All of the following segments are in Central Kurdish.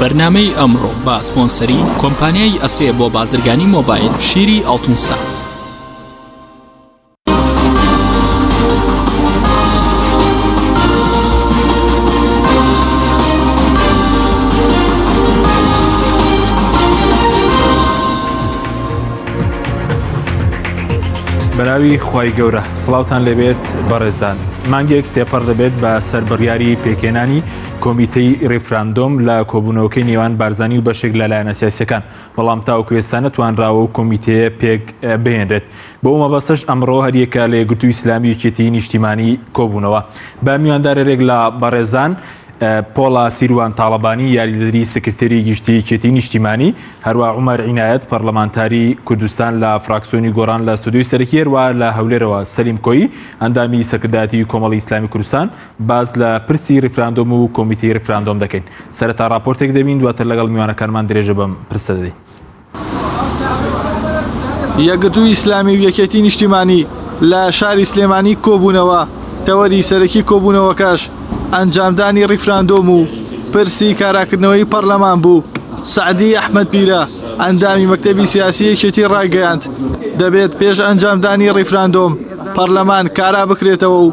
بەرنامەی ئەمڕۆ با سپۆنسەری کۆمپانیای ئەسێ بۆ بازرگانی مۆبایل شیری ئەڵتونسا. بەراوی خی گەورە سڵاوان لەبێت بەڕێزان مانگێک تێپەڕ دەبێت بە سەربڕیاری پێکێنانی کۆمیتەی ریفراندۆم لە کۆبوونەوەکەی نێوان بارزانی و بەشێک لە لایەنە سیاسیەکان بەڵام تاوەکو ئێستا نەتوانراوە و کۆمیتەیە پێک بهێنرێت بەو مەبەستەش ئەمڕۆ هەریەکە لە یەکگرتوو ئیسلامی و یەکێتی نیشتیمانی کۆبوونەوە بە میواندارەرێک لە بەڕێزان پۆڵا سیروان تاڵەبانی یاریدەدری سکرتێری گشتی کێتی نیشتیمانی هەروە عمر عینایەت پەرلەمانتاری کوردستان لە فراکسۆنی گۆران لە ستودیوی سەرکیێروا لە هەولێرەوە سەلیم کۆی ئەندامی سەکردایەتی کۆمەڵی ئیسلامی کوردستان باس لە پرسی ریفراندۆم و کۆمیتەی ریفراندۆم دەکەین سەرەتا راپۆرتێک دەبین دواتر لەگەڵ میوانەکانمان درێژە بەم پرسە دەدەین. یەکگرتوو ئیسلامی و یەکێتی نیشتیمانی لە شاری سلێمانی کۆبوونەوە تەوەری سەرەکی کۆبوونەوەکەش ئەنجامدانی ریفراندۆم و پرسی کاراکردنەوەی پەرلەمان بوو سەعدی ئەحمەد پیرە ئەندامی مەکتەبی سیاسی یەکێتی ڕایگەیاند دەبێت پێش ئەنجامدانی ریفراندۆم پەرلەمان کارا بکرێتەوە و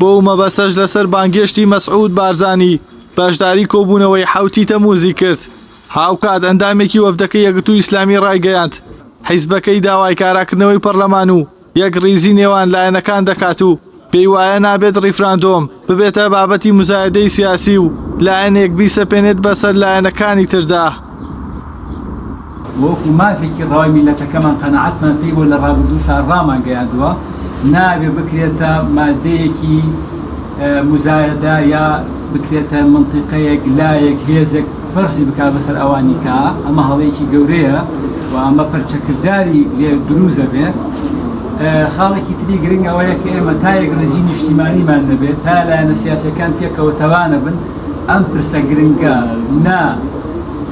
بۆ و مەبەسەش لەسەر بانگێشتی مەسعود بارزانی بەشداری کۆبوونەوەی حەوتی تەمووزی کرد. هاوکات ئەندامێکی وەفدەکەی یەکگرتووی ئیسلامی ڕایگەیاند، حیزبەکەی داوای کاراکردنەوەی پەرلەمان و یەکڕیزی نێوان لایەنەکان دەکات و پێی وایە نابێت ڕیفراندۆم ببێتە بابەتی مزایەدەی سیاسی و لایەنێک بیسەپێنێت بەسەر لایەنەکانی تردا. وەکو مافێکی ڕەوای میللەتەکەمان قەناعەتمان پێی بووە لە ڕابردووشا ڕامانگەیاندووە نابێ بکرێتە مادەیەکی موزایەدە یا بکرێتە منتیقەیەک لایەک هێزێک فەرزی بک بەسەر ئەوانی کە ئەمە هەڵەیەکی گەورەیە و ئەمە پەرچەکرداری لێ دروزە بێ خاڵێکی تری گرنگ ئەوەیە کە ئێمە تایەک ڕێزی نیشتیمانیمان نەبێت تا لایەنە سیاسەکان پێکەوە تەوانە بن ئەم پرسە گرنگە نا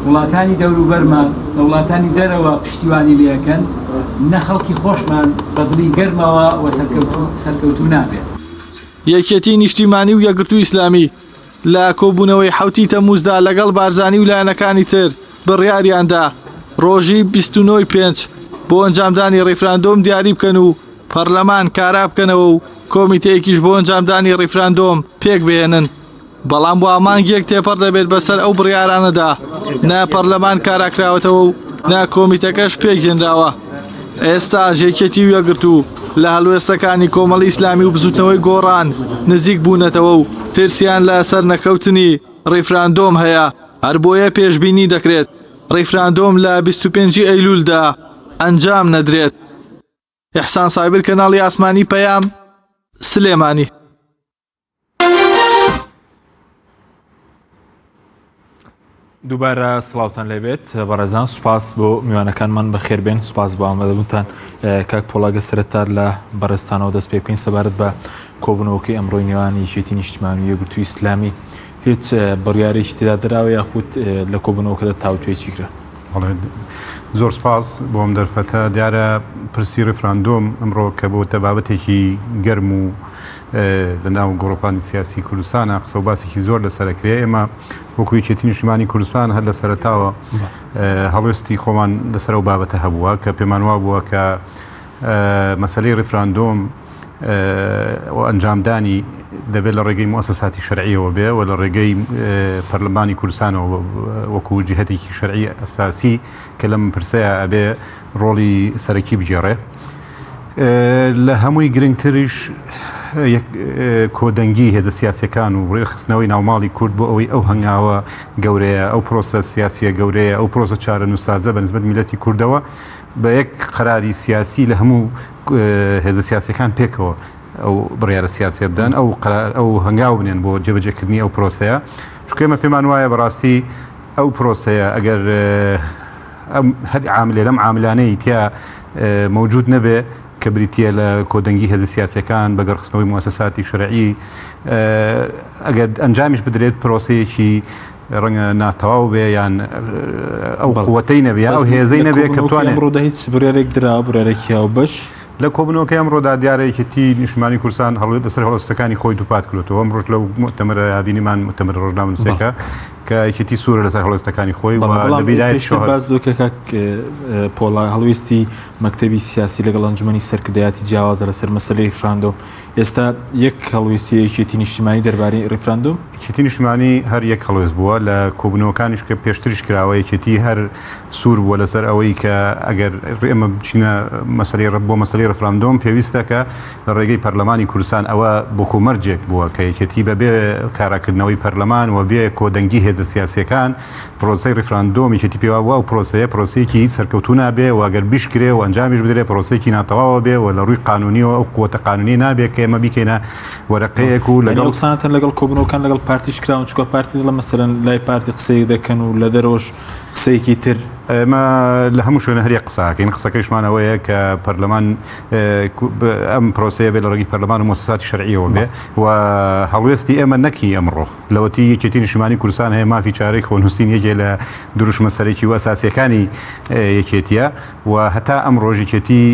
وڵاتانی دەوروبەرمان لە وڵاتانی دەرەوە پشتیوانی لەکەن نە خەڵکی خۆشمان بەدڵی گەرمەوە و سەرکەوتو نابێت یەکێتی نیشتیمانی و یەگرتو ئیسلامی لە کۆبوونەوەی حوتی تەموزدا لەگەڵ بارزانی و لایەنەکانی تر بڕیاریاندا ڕۆژی 29 پێنج بۆ ئەنجامدانی ڕیفراندۆم دیاری بکەن و پەرلەمان کارا بکەنەوە و کۆمیتەیەکیش بۆ ئەنجامدانی ڕیفراندۆم پێک بهێنن بەڵام وا مانگێک تێپەڕ دەبێت بەسەر ئەو بڕیارانەدا نە پەرلەمان کاراکراوەتەوە و نە کۆمیتەکەش پێکهێنراوە ئێستا ژێکێتی و یەگرت و لە هەلوێستەکانی کۆمەڵ ئیسلامی و بزوتنەوەی گۆڕان نزیک بوونەتەوە و ترسیان لە سەر نەکەوتنی ڕیفراندۆم هەیە هەر بۆیە پێشببینی دەکرێت ڕیفراندۆم لە 25 ئەیلولدا ئەنجام نەدرێت. ئیحسان سایبر کەناڵی ئاسمانی پەیام سلێمانی. دووبارە سلااوان لەبێت بەڕێزان سوپاس بۆ میوانەکانمان بەخێربێن سوپاس بۆ ئامەدەبوونتان کاک پۆڵاگە سرەتا لە بەڕێستانەوە دەست پێ بکەین سەبارەت بە کۆبنەوەکەی ئەمڕۆی نێوان یەکێتی نیشتمانی یەگرتو ئیسلامی هیچ بڕیارێکی تدا دراوە یاخود لە کۆبنەوەکەدا تاوتوێکی کرا زۆر سپاس بۆم دەرفەتە دیارە پرسی ڕفراندۆم ئەمڕۆ کە بۆتە بابەتێکی گەرم و لە ناو گۆڕەپانی سیاسی کوردستانە قسە و باسێکی زۆر لەسەر کرێ ئێمە وەکو یەکێتی نیشتمانی کوردستان هەر لە سەرتاوە هەڵوێستی خۆمان لەسەر و بابەتە هەبووە کە پێمان وا بووە کە مەسلەی ڕفراندۆم و ئەنجامدانی دەبێت لە ڕێگەی موسەساتی شەرعیەوە بێ و لە ڕێگەی پەرلەمانی کوردستانەوە وەکو جهتێکی شەرعی ئەساسی کە لەم پرسەیە ئەبێ ڕۆڵی سەرەکی بگێڕێ. لە هەمووی گرنگتریش کۆدەنگی هێزە سیاسیەکان و ڕێخستنەوەی ناوماڵی کورد بۆ ئەوەی ئەو هەنگاوە گەورەیە ئەو پرۆسە سیاسیە گەورەیە ئەو پرۆسە چارەنووسازە بە نسبەت میلەتی کوردەوە بە یەک قەراری سیاسی لە هەموو هێزە سیاسەکان پێکەوە ئەو بڕیارە سیاسە بدەن ئەو قرار ئەو هەنگاو بنێن بۆ جێبەجێکردنی ئەو پرۆسەیە چکێمە پێمان وایە بەڕاستی ئەو پرۆسەیە ئەگەر هەر عاملێ لەم عاملانەی تیا مەوجود نەبێ کە بریتە لە کۆدەنگی هێز سیاسەکان بەگەڕخستنەوەی موسەساتی شەرعی ئەگەر ئەنجامیش بدرێت پرۆسەیەکی ڕەنگە ناتەواو بێ یان ئەو قوتەی نەبێ ئەو هێزەی نەبێ کە توانێت ڕۆدا هیچ برێرێک درا برێرەکییا و بەش لە کۆبنەوەکە ئەم ڕۆدا دیارەیەکێتی نیشمانی کورسان هەڵێت لەسەر هەڵستەکانی خۆی دووپات کردەوە ئەم ڕژ لە متەمەرە یابینیمان متەمەر ڕۆژنامەنووسەکە کە یەکێتی سوورە لەسەر هەڵوێستەکانی خۆی و بەڵام لە بیدایەت پێشتر شەهر باس دۆکە کاک اه، پۆڵا هەڵویستی مەکتەبی سیاسی لەگەڵ ئەنجومەنی سەرکردایەتی جیاوازە لەسەر مەسەلەی ریفراندۆم ئێستا یەک هەڵویستی یەکێتی نیشتیمانی دەربارەی ریفراندۆم یەکێتی نیشتمانی هەر یەک هەڵوێست بووە لە کۆبوونەوەکانیش کە پێشتریش کراوە یەکێتی هەر سوور بووە لەسەر ئەوەی کە ئەگەر ئێمە بچینە مەسەلەی ڕە- بۆ مەسەلەی ڕفراندۆم پێویستە کە لە ڕێگەی پەرلەمانی کوردستان ئەوە بۆکۆ مەرجێک بووە کە یەکێتی بە بێ کاراکردنەوەی پەرلەمان و بێ کۆدەنگی هێزە سیاسیەکان پرۆسەی ڕیفراندۆم یەکێتی پێوا بووە و پرۆسەیە پرۆسەیەکی هیچ سەرکەوتوو نابێ و ئەگەر بیشکرێ و ئەنجامیش بدرێ پرۆسەیەکی ناتەواوە بێ و لە ڕووی قانونیەوە ئەو قووەتە قانونی نابێ کە ئێمە بیکەینە وەرەقەیەک و لەگەڵ یعنی قسانتان لەگەڵ کۆبنەوەکان لەگەڵ پارتیش کراون چکە پارتی دڵە مەسەرەن لای پارتی قسەی دەکەن و لە دەرەوەش قسەیەکی تر ئێمە لە هەموو شوێنە هەریە قساکەین قسەکەیشمانەوەیە کە پەرلەمان ئەم پرۆسەیە بێ لە ڕێگەی پەرلەمان و مۆسساتی شەرعیەوە بێ و هەڵوێستی ئێمە نەکی ئەمڕۆ لەوەتی یەکێتی نیشتمانی کوردستان هەیە مافی چارەی خۆنووسین یەکێ لە دروشمە سەرەکی و ئەساسیەکانی یەکێتیە و هەتا ئەم ڕۆژێکێتی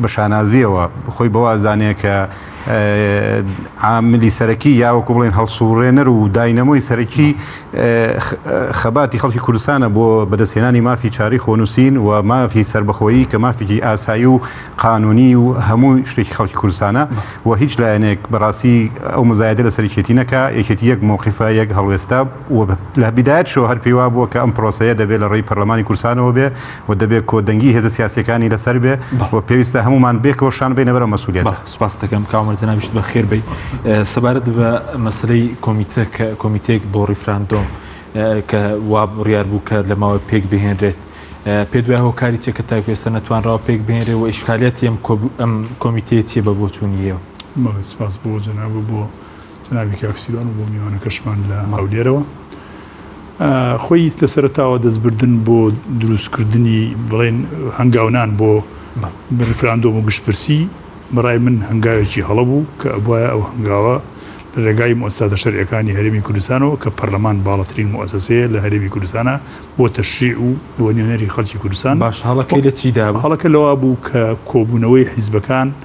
بە شانازیەوە خۆی بەوازانەیە کە عاملی سەرەکی یاوەکو بڵێن هەڵسوڕێنەر و داینەمۆی سەرەکی خەباتی خەڵکی کوردستانە بۆ بەدەستهێنانی مافی چاری خۆنووسین و مافی سربەخۆیی کە مافێکی ئاسایی و قانونی و هەموو شتێکی خەڵکی کوردستانە و هیچ لایەنێک بەڕاستی ئەو مزایدە لە سەرکێتی نەکە یەکێتی یەک مووقیفە یەک هەڵوێستا و لە بدایەت شۆ هەر پێیوا بووە کە ئەم پرۆسەیە دەبێت لە ڕێی پەرلەمانی کورسانەوە بێ و دەبێ کۆدەنگی هێزە سیاسیەکانی لەسەر بێ و پێویستە هەمومان بێکەوە شان بینە بەرەو مەسوولێت سپاس دەکەم کامەر جنابیشت بە خێر بیت سەبارەت بە مەسلەی کۆمیتە کە کۆمیتێک بۆ ڕیفراندۆم کە وا بڕیار بوو کە لە ماوە پێک بهێنرێت پێ دوای هۆکاری چێکە تا پێستە نەتوانراوە پێک بێنێ و ئیشکالیت ئەم ئەم کۆمیتەیە چیە بە بۆچوونیەوە سپاس بۆ جەناب بۆ جەنابی کاک سیروان و بۆ میوانەکەشمان لە هەولێرەوە. خۆی لە سەرتاوە دەستبردن بۆ دروستکردنی بڵێن هەنگاونان بۆ ریفراندۆم و گشتپرسی بەڕای من هەنگاوێکی هەڵە بوو کە ئەبواە ئەو هەنگاوە لە ڕێگای مؤسساتە شەرعەکانی هەرێمی کوردستانەوە کە پەرلەمان باڵەترین مؤسسەیە لە هەرێمی کوردستانە بۆ تەشریع و بۆ نوێنەری خەڵکی کوردستان باش هەڵەکەی لە چیدا هەڵەکە لەوا بوو کە کۆبوونەوەی حیزبەکان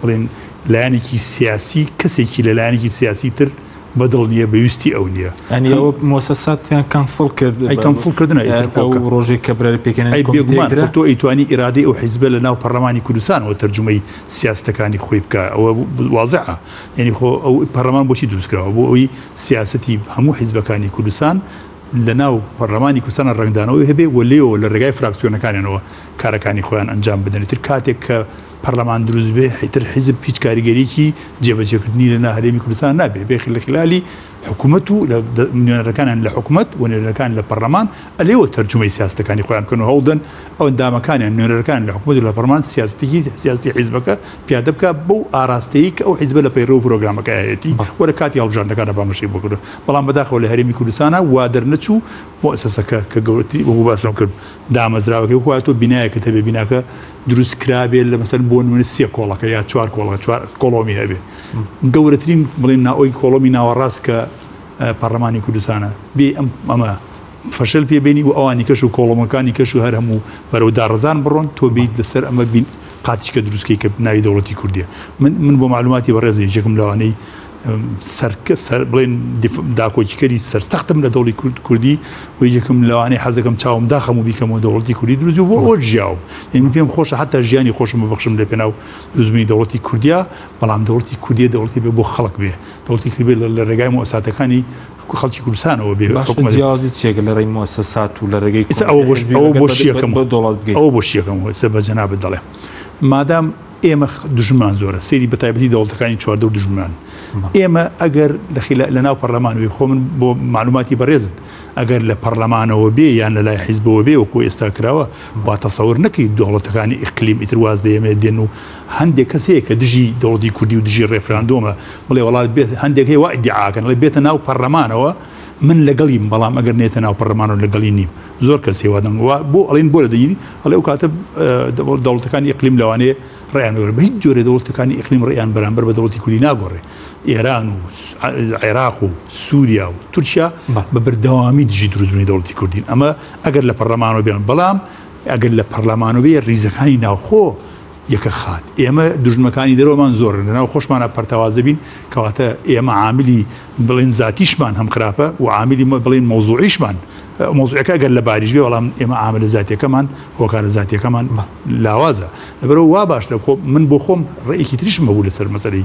بڵێن لایەنێکی سیاسی کەسێکی لە لایەنێکی سیاسی تر بەدڵ نییە بەویستی ئەو نییە ئەنیەوە مۆسەساتیان کەنسڵ کرد کەنسڵ کردن ڕۆژێک کە برای پێکەنە بێگومان تۆ ئەیتوانی ئیرادی ئەو حیزبە لە ناو پەرلەمانی کوردستانەوە تەرجمەی سیاستەکانی خۆی بکە ئەوە وازە یعنی خۆ ئەو پەرلەمان بۆچی دروستکراوە بۆ ئەوی سیاستی هەموو حیزبەکانی کوردستان لە ناو پەرلەمانی کوردستانە ڕنگدانەوەی هەبێ و لێەوە لە ڕێگای فراکسیۆنەکانیانەوە کارەکانی خۆیان ئەنجام بدەنێتتر کاتێک کە پەرلەمان دروست بێ حیتر حیزب هیچ کاریگەریکی جێبەجێکردنی لە ناهرێمی کوردستان نابێ بێخ لە خلالی حکوومەت و لە نوێنەرەکانیان لە حکوومەت و نوێنەرەکان لە پەرلەمان ئەلێەوە تەرجمەی سیاستەکانی خۆیان بکەن و هەوڵدەن ئەو دامەکانیان نوێنەرەکان لە حکوومەت لە پەرمان سیاستێکی سیاستی حیزبەکە پیادە بکە بەو ئاراستەیە کە ئەو حیزبە لە پەیڕۆ پرۆگرامەکەیەتی وەرە کاتی هەڵبژاندەکانە بامەشی بکرد بەڵام بەداخەوە لە هەرمی کوردستانە وا دەرنەچوو مؤسسەکە کە گەورەتری وەگو باسم کرد دامەزراوەکەی خۆاتۆ بینایەکە تەبێ بیناکە دروست کرابێت لە مەسەر بۆ نوێن سیە کۆڵەکە یا چوار کۆڵە چوار کۆڵۆمی هەبێت گەورەترین بڵێن ناوەی کۆڵۆمی ناوەڕاست کە پەرلەمانی کوردستانە بێ ئەم ئەمە فەشل پێبینی و ئەوانی کەش و کۆڵۆمەکانی کەش و هەر هەموو بەرەو داڕزان بڕۆن تۆ بیت لەسەر ئەمە بین قاتیشکە دروستکەی کە ناوی دەوڵەتی کوردیە من من بۆ معلوماتی بەڕێزی یەکم لەوانەی سەرکە سەر بڵێن داکۆکیکەری سەرسەختم لە دەوڵی کورد کوردی و یەکم لەوانەیە حەزەکەم چاوم داخەم و بیکەم و دەوڵەتی کوردی دروزی بۆ ئەوە ژیاوم یعنی پێم خۆشە حتا ژیانی خۆشم ببخشم لە پێناو دروزمی دەوڵەتی کوردیا بەڵام دەوڵەتی کوردی دەوڵەتی بێ بۆ خەڵک بێ دەوڵەتی کرد بێ لە ڕێگای مۆساتەکانی خەڵکی کوردستانەوە بێ جیازی چێک لە ڕێی مۆسەسات و لە ڕێگەی ئەوە بۆشیەکەم بۆ دەوڵەت ئەوە بۆشیەکەم سە بە جەنا بدەڵێ مادام ئێمە دژمان زۆرە سری بە تایبەتی دەوڵەتەکانی چواردە و دژمان ئێمە ئەگەر لە ناو پەرلەمانەوەی خۆ من بۆ معلوماتی بەڕێزن ئەگەر لە پەرلەمانەوە بێ یان لە لای حیزبەوە بێ وەکو ئێستا کراوە با تەسەور نەکەی دەوڵەتەکانی ئیقلیم ئیترواز دەێمێ دێن و هەندێک کەس هەیە کە دژی دەوڵی کوردی و دژی ڕێفراندۆمە بڵێ وڵات بێت هەندێک هەیە وادیعاکەن ڵێ بێتە ناو پەرلەمانەوە من لەگەڵیم بەڵام ئەگەر نێتە ناو پەرلەمانەوە لەگەڵی نیم زۆر کەس هێوادەم و بۆ ئەڵین بۆ لە دەینی ئەڵێ و کاتە دەوڵەتەکانی ئەقلیم لەوانەیە ڕیانۆر بە هیچ جۆرە دەوڵەتەکانی ئەقلیم ڕیان بەرامبەر بە دەوڵەتی کولی ناگۆڕێ ئێران و عێراق و سووریا و تورکیا بە بەردەوامی دژی دروستبوونی دەوڵەتی کوردین ئەمە ئەگەر لە پەرلەمانەوە بێن بەڵام ئەگەر لە پەرلەمانەوەی ریزەکانی ناوخۆ یەکە خات ئێمە دژمەکانی دەرۆمان زۆر لەناو خۆشمانە پەرتەوازە بین کەواتە ئێمە عاملی بڵێن زاتیشمان هەم خراپە و عاملی مە بڵێن مەوزوعیشمان مۆزوعەکە گەر لە باریش بێ بەڵام ئێمە ئامرە زاتیەکەمان هۆکارە زاتیەکەمان لاوازە لەبەرەوە وا باش لە خۆ من بۆ خۆم ڕێکی تریشم هەبوو لەسەر مەسەری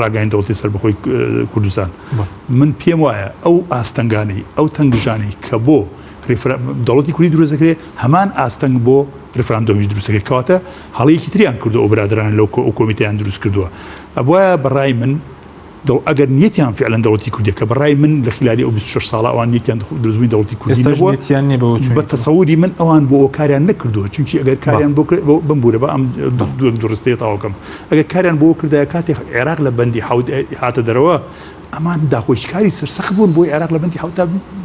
ڕاگەین دەوڵی سەر بخۆی کوردستان من پێم وایە ئەو ئاستەنگانەی ئەو تەنگژانەی کە بۆ دەوڵەتی کوردی دروستەکرێ هەمان ئاستەنگ بۆ ریفراندۆمی دروستەکە کاتە هەڵەیەکی تریان کردو ئەو برادران لەو کۆمیتیان دروست کردووە ئەبواە بەڕای من دەوڵ ئەگەر نیەتیان فعلا دەوڵەتی کوردیە کە بەڕای من لە خلالی ئەو 26 ساڵە ئەوان نیەتیان دروستبووی دەوڵەتی کوردی نەبووەتیان نیە بە تەسەوری من ئەوان بۆ کاریان نەکردووە چونکی ئەگەر کاریان بۆ بمبورە بە ئەم دوو درستەیە تاواکەم ئەگەر کاریان بۆ کردای کاتێک عێراق لە بەندی حوت هاتە دەرەوە ئەمان داخۆشکاری سەرسەخ بوون بۆی عێراق لە بەندی حوتا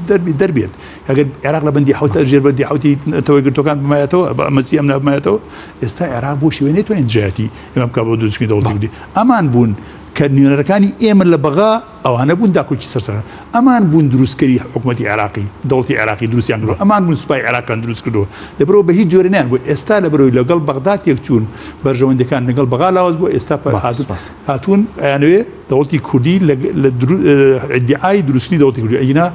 دەربی دەربێت ئەگەر عێراق لە بەندی حوتە ژێر بەندی حوتی ئەتەوەی گرتوەکان بمایەتەوە بە ئەمەسی ئەم نابمایەتەوە ئێستا عێراق بۆ شوێنێت توانین جیاتی ئەمە بکە بۆ دوچکی دەوڵی ئەمان بوون کە نوێنەرەکانی ئێمە لە بەغا ئەوانە بوون داکۆکی سەر سەر ئەمان بوون دروستکەری حکوومەتی عێراقی دەوڵەتی عێراقی دروستیان کردو ئەمان بوون سوپای عێراقیان دروست کردو لەبەرەوە بە هیچ جۆرە نیان بۆ ئێستا لە بەرەوەی لەگەڵ بەغدا تێکچوون بەرژەوەندەکان لەگەڵ بەغا لاواز بۆ ئێستا پێ حاضر هاتوون ئەیانوێ دەوڵەتی کوردی لە ئیدعای دروستی دەوڵەتی کوردی ئەینا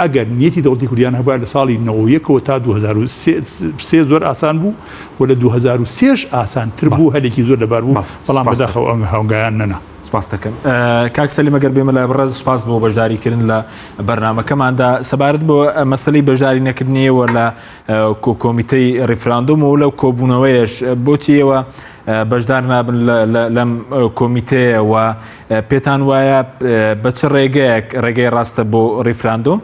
ئەگەر نیەتی دەوڵەتی کوردیان هەبووە لە ساڵی نەوە یەکەوە تا 2023 زۆر ئاسان بوو و لە 2023 ئاسان تر بوو هەلێکی زۆر لەبار بوو بەڵام بەداخەوە ئەنگ هەنگایان نەنا. سپاس دەکەم کاک سەلی مەگەر بێمە لای بڕێز سپاس بۆ بەشداریکردن لە بەرنمەکەماندا سەبارەت بۆ مەسلەی بەشداری نەکردنیەوە لە کۆمیتەی ڕیفراندۆم و لەو کۆبوونەوەیش بۆچیەوە بەشدار نابن لەم کۆمیتەیە و پێتان وایە بە چ ڕێگەیەک ڕێگەی ڕاستە بۆ ڕیفراندۆم؟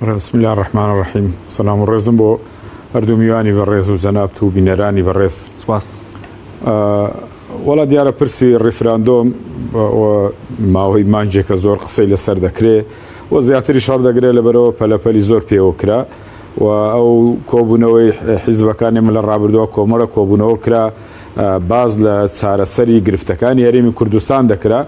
بسم الله الرحمن الرحیم سلام و ڕێزم بۆ هەردوو میوانی بە ڕێز و جەنابت و بینەرانی بە ڕێز سپاس وڵا دیارە پرسی ڕیفراندۆم ماوەی مانجێکە زۆر قسەی لەسەر دەکرێ و زیاتری شار دەگرێت لەبەرەوە پەلەپەلی زۆر پێوە کرا و ئەو کۆبوونەوەی حیزبەکانی من لە ڕابردووە کۆمەڵە کۆبوونەوە کرا باز لە چارەسەری گرفتەکانی هەرێمی کوردستان دەکرا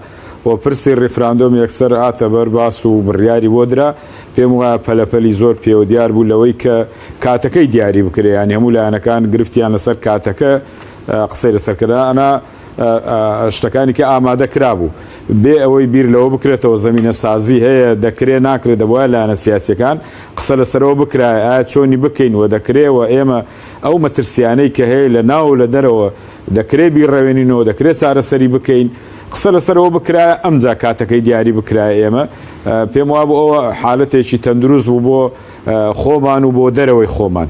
و پرسی ڕیفراندۆم یەکسەر هاتە بەر باس و بڕیاری بۆ درا پێم وایە پەلەپەلی زۆر پێوە دیار بوو لەوەی کە کاتەکەی دیاری بکرێ یان هەموو لایەنەکان گرفتیان لەسەر کاتەکە قسەی لەسەرکردنا شتەکانی کە ئامادە کرابوو بێ ئەوەی بیر لەوە بکرێتەوە زمینە سازی هەیە دەکرێ ناکرێت دەبواە لایەنە سیاسەکان قسە لەسەرەوە بکرای ئایا چۆنی بکەین و دەکرێەوە ئێمە ئەو مەترسیانەی کە هەیە لە ناو لە دەرەوە دەکرێ بیڕەوێنینەوە دەکرێت چارەسەری بکەین قسە لەسەرەوە بکرا ئەمجا کاتەکەی دیاری بکرای ئێمە پێم وابوو ئەوە حالەتێکی تەندروست بوو بۆ خۆمان و بۆ دەرەوەی خۆمان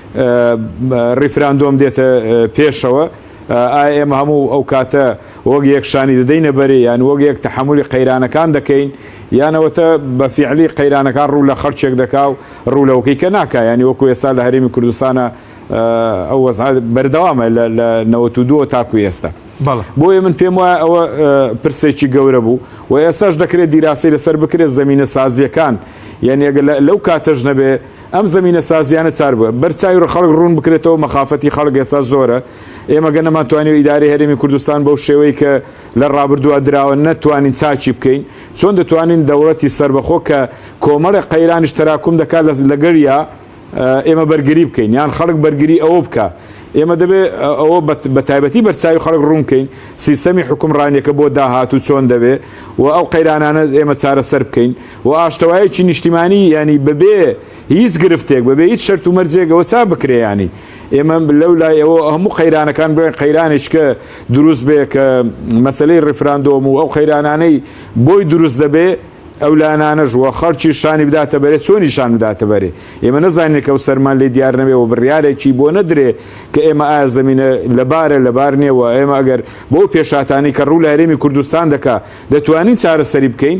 ڕیفراندۆم دێتە پێشەوە، ئایا ئێمە هەموو ئەو کاتە وەک یەک شانی دەدەینە بەرێ یان وەک یەک تەحەمولی قەیرانەکان دەکەین یان ئەوەتا بە فیعلی قەیرانەکان ڕوو لە خەڵکێک دەکا و ڕوو لەوەکەی کە ناکا یانی وەکو ئێستا لە هەرێمی کوردستانە ئەو وەزعە بەردەوامە لە لە نەوەت و دووە تاکو ئێستا بەڵێ بۆیە من پێم وایە ئەوە پرسێکی گەورە بوو و ئێستاش دەکرێت دیراسی لەسەر بکرێت زەمینە سازیەکان یعنی ئەگە لەو کاتەش نەبێ ئەم زەمینە سازیانە چار بووە بەر چاوی ڕ خەڵک ڕوون بکرێتەوە مەخافەتی خەڵک ئێستا زۆرە ئێمە گە نەمان توانی و ئیدارەی هەرێمی کوردستان بەو شێوەی کە لە ڕابردووە دراوە نە توانین چاکی بکەین چۆن دەتوانین دەوڵەتی سەربەخۆ کە کۆمەڵێ قەیرانیش تەراکوم دەکات لە لەگەریا ئێمە بەرگری بکەین یان خەڵک بەرگری ئەوە بکە ئێمە دەبێت ئەوە بە تایبەتی بەرچوی خەڵک ڕوونکەین سیستەمی حکومڕانیەکە بۆ داهات و چۆن دەبێت و ئەو قەیرانانە ئێمە چارەسەر بکەین و ئاشتەوایەکی نیشتیمانی یانی بەبێ هیچ گرفتێک بەبێ هیچ شەرت و مەرجێک ئەوە چا بکرێ یانی ئێمە لەو لای ئەوە هەموو قەیرانەکان بڵێن قەیرانێککە دروست بێ کە مەسلەی ڕیفراندۆم و ئەو قەیرانانەی بۆی دروست دەبێ ئەو لایەنانەش وە خەڵکی شانی بداتە بەرێ چۆنی شان بداتە بەرێ ئێمە نەزانێکە و سەرمان لێ دیار نەبێ و بڕیارێکی بۆ نەدرێ کە ئێمە ئایا زمینە لەبارە لەبار نێوە ئێمە ئەگەر بۆ پێشاتانی کە ڕوو لە هەرێمی کوردستان دەکا دەتوانین چارەسەری بکەین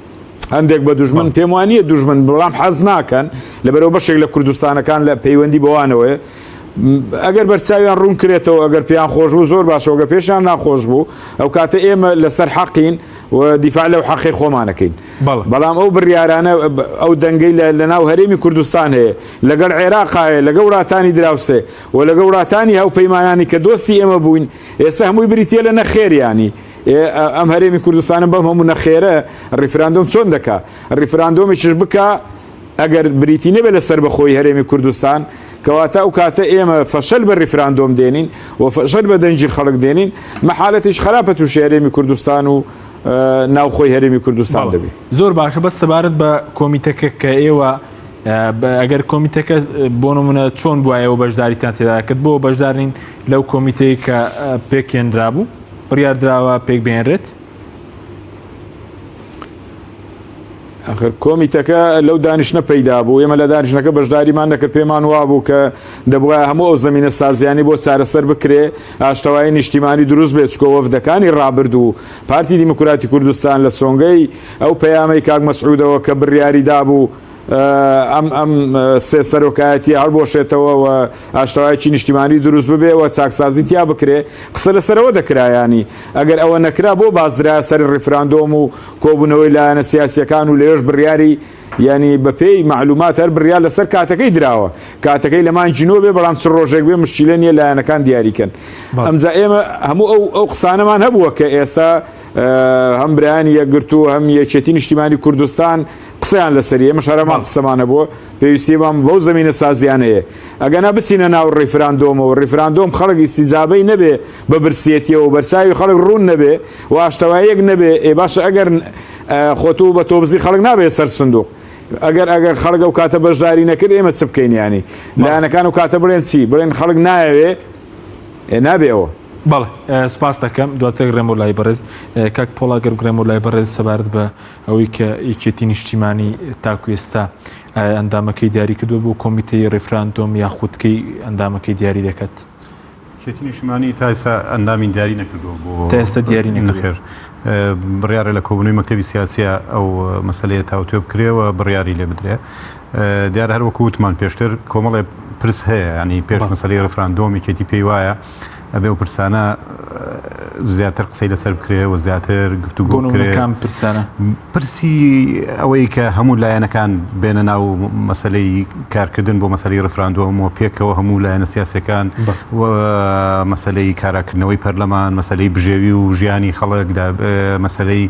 هەندێک بە دوژمن پێم وانە دوژمن بەڵام حەز ناکەن لەبەرەوە بەشێک لە کوردستانەکان لە پەیوەندی بەوانەوەی ئەگەر بەرچاویان ڕوون کرێتەوە ئەگەر پێیان خۆش بوو زۆر باشەوەگە پێشیان ناخۆش بوو ئەو کاتە ئێمە لەسەر حەقین و دیفاع لەو حەقی خۆمانەکەین بەڵام ئەو بڕیارانە ئەو دەنگەی لە ناو هەرێمی کوردستان هەیە لەگەڵ عێراقایە لەگە وڵاتانی دراوسێ و لەگە وڵاتانی هەوپەیمانانی کە دۆستی ئێمە بووین ئێستا هەمووی بریتە لە نەخێریانی ئێ ئەم هەرێمی کوردستانە بەم هەموو نەخێرە ڕیفراندۆم چۆن دەکا ڕیفراندۆمیش بکا ئەگەر بریتی نەبێت لە سربەخۆی هەرێمی کوردستان کەواتە ئەو کاتە ئێمە فەشەل بە ڕیفراندۆم دێنین و فەشەل بە دەنجی خەڵک دێنین مەحالەتیش خراپە تووشی هەرێمی کوردستان و ناوخۆی هەرێمی کوردستان دەبێت زۆر باشە بە سەبارەت بە کۆمیتەکە کە ئێوە ئەگەر کۆمیتەکە بۆ نمونە چۆن بواەوە بەشداریتان تێدا کرد بۆ بەشدارین لەو کۆمیتەی کە پێکێنرا بوو بڕیاردراوە پێک بێنرێت ئەخر کۆمیتەکە لەو دانیشتە پەیدا بوو ئێمە لە دانیشتەکە بەشداریمان نەکە پێمان وا بوو کە دەبواە هەموو ئەو زمینە سازیانی بۆ چارەسەر بکرێ ئاشتەوای نیشتیمانی دروست بێت چکۆ وەفدەکانی ڕابردوو پارتی دیموکراتی کوردستان لە سۆنگەی ئەو پەیامەی کاک مەسعودەوە کە بڕیاری دابوو ئەم ئەم سێ سەرۆکایەتی هەڵبۆشێتەوە و ئاشتەوایەکی نیشتیمانی دروست ببێ و چاکسازی تیا بکرێ قسە لەسەرەوە دەکرایانی ئەگەر ئەوە نەکرا بۆ بازدرا سەر ڕیفراندۆم و کۆبوونەوەی لایەنە سیاسیەکان و لەوێش بڕیاری یعنی بەپێی معلومات هەر بڕیار لەسەر کاتەکەی دراوە کاتەکەی لە مانگی نۆ بێ بەڵام چ ڕۆژێک بێ مشکیلە نیە لایەنەکان دیاریکەن ئەمجا ئێمە هەموو ئەو ئەو قسانەمان هەبووە کە ئێستا هەم برایانی یەکگرتو هەم یەکێتی نیشتیمانی کوردستان قسەیان لەسەر ئێمە شارەمان قسەمانە بۆ پێویستیمان بەو زمینە سازیانەیە ئەگەنا بچینە ناو ڕیفراندۆمەوە ڕیفراندۆم خەڵک ئیسیجابەی نەبێ بە برسێتیەوە بەرچوی خەڵک ڕوون نەبێ و ئاشتەوایەک نەبێ ئێ باشە ئەگەر خۆتو بە تۆبزی خەڵک نابێت سەر سندوق ئەگەر ئەگەر خەڵگە و کاتە بەشداری نەکرد ئێمە چ بکەین ینی لایەنەکان و کاتە بڵێن چی بڵێن خەڵک نایەوێ نابێ ئەوە بەڵێ سپاس دەکەم دواتر گرێم بۆ لای بەڕێز کاک پۆڵا گەر گرێم بۆ لای بەڕێز سەبارەت بە ئەوەی کە یەکێتی نیشتیمانی تاکو ئێستا ئەندامەکەی دیاری کردو بۆ کۆمیتەی ڕیفراندۆم یا خودکەی ئەندامەکەی دیاری دەکات یەکێتی نیشتیمانی تا ئێستا ئەندامی دیاری نەکردووە بۆ تا ئێستا دیاری نەخێر بڕیارە لە کۆبوونەوەی مەکتەبی سیاسیە ئەو مەسلەیە تاوتوێ بکرێەوە بڕیاری لێ بدرێ دیارە هەر وەکو وتمان پێشتر کۆمەڵێ پرس هەیە ینی پێش مەسەری ڕفراندۆمی کێتی پێی وایە ئەبێ و پرسانە زیاتر قسەی لەسەر بکرێ و زیاتر گفتوگۆکان پرسانە پرسی ئەوەی کە هەموو لایەنەکان بێنە ناو مەسلەی کارکردن بۆ مەسەری ڕفراندۆم و پێکەوە هەموو لایەنە سیاسەکان و مەسلەی کاراکردنەوەی پەرلەمان مەسلەی بژێوی و ژیانی خەڵک مەسلەی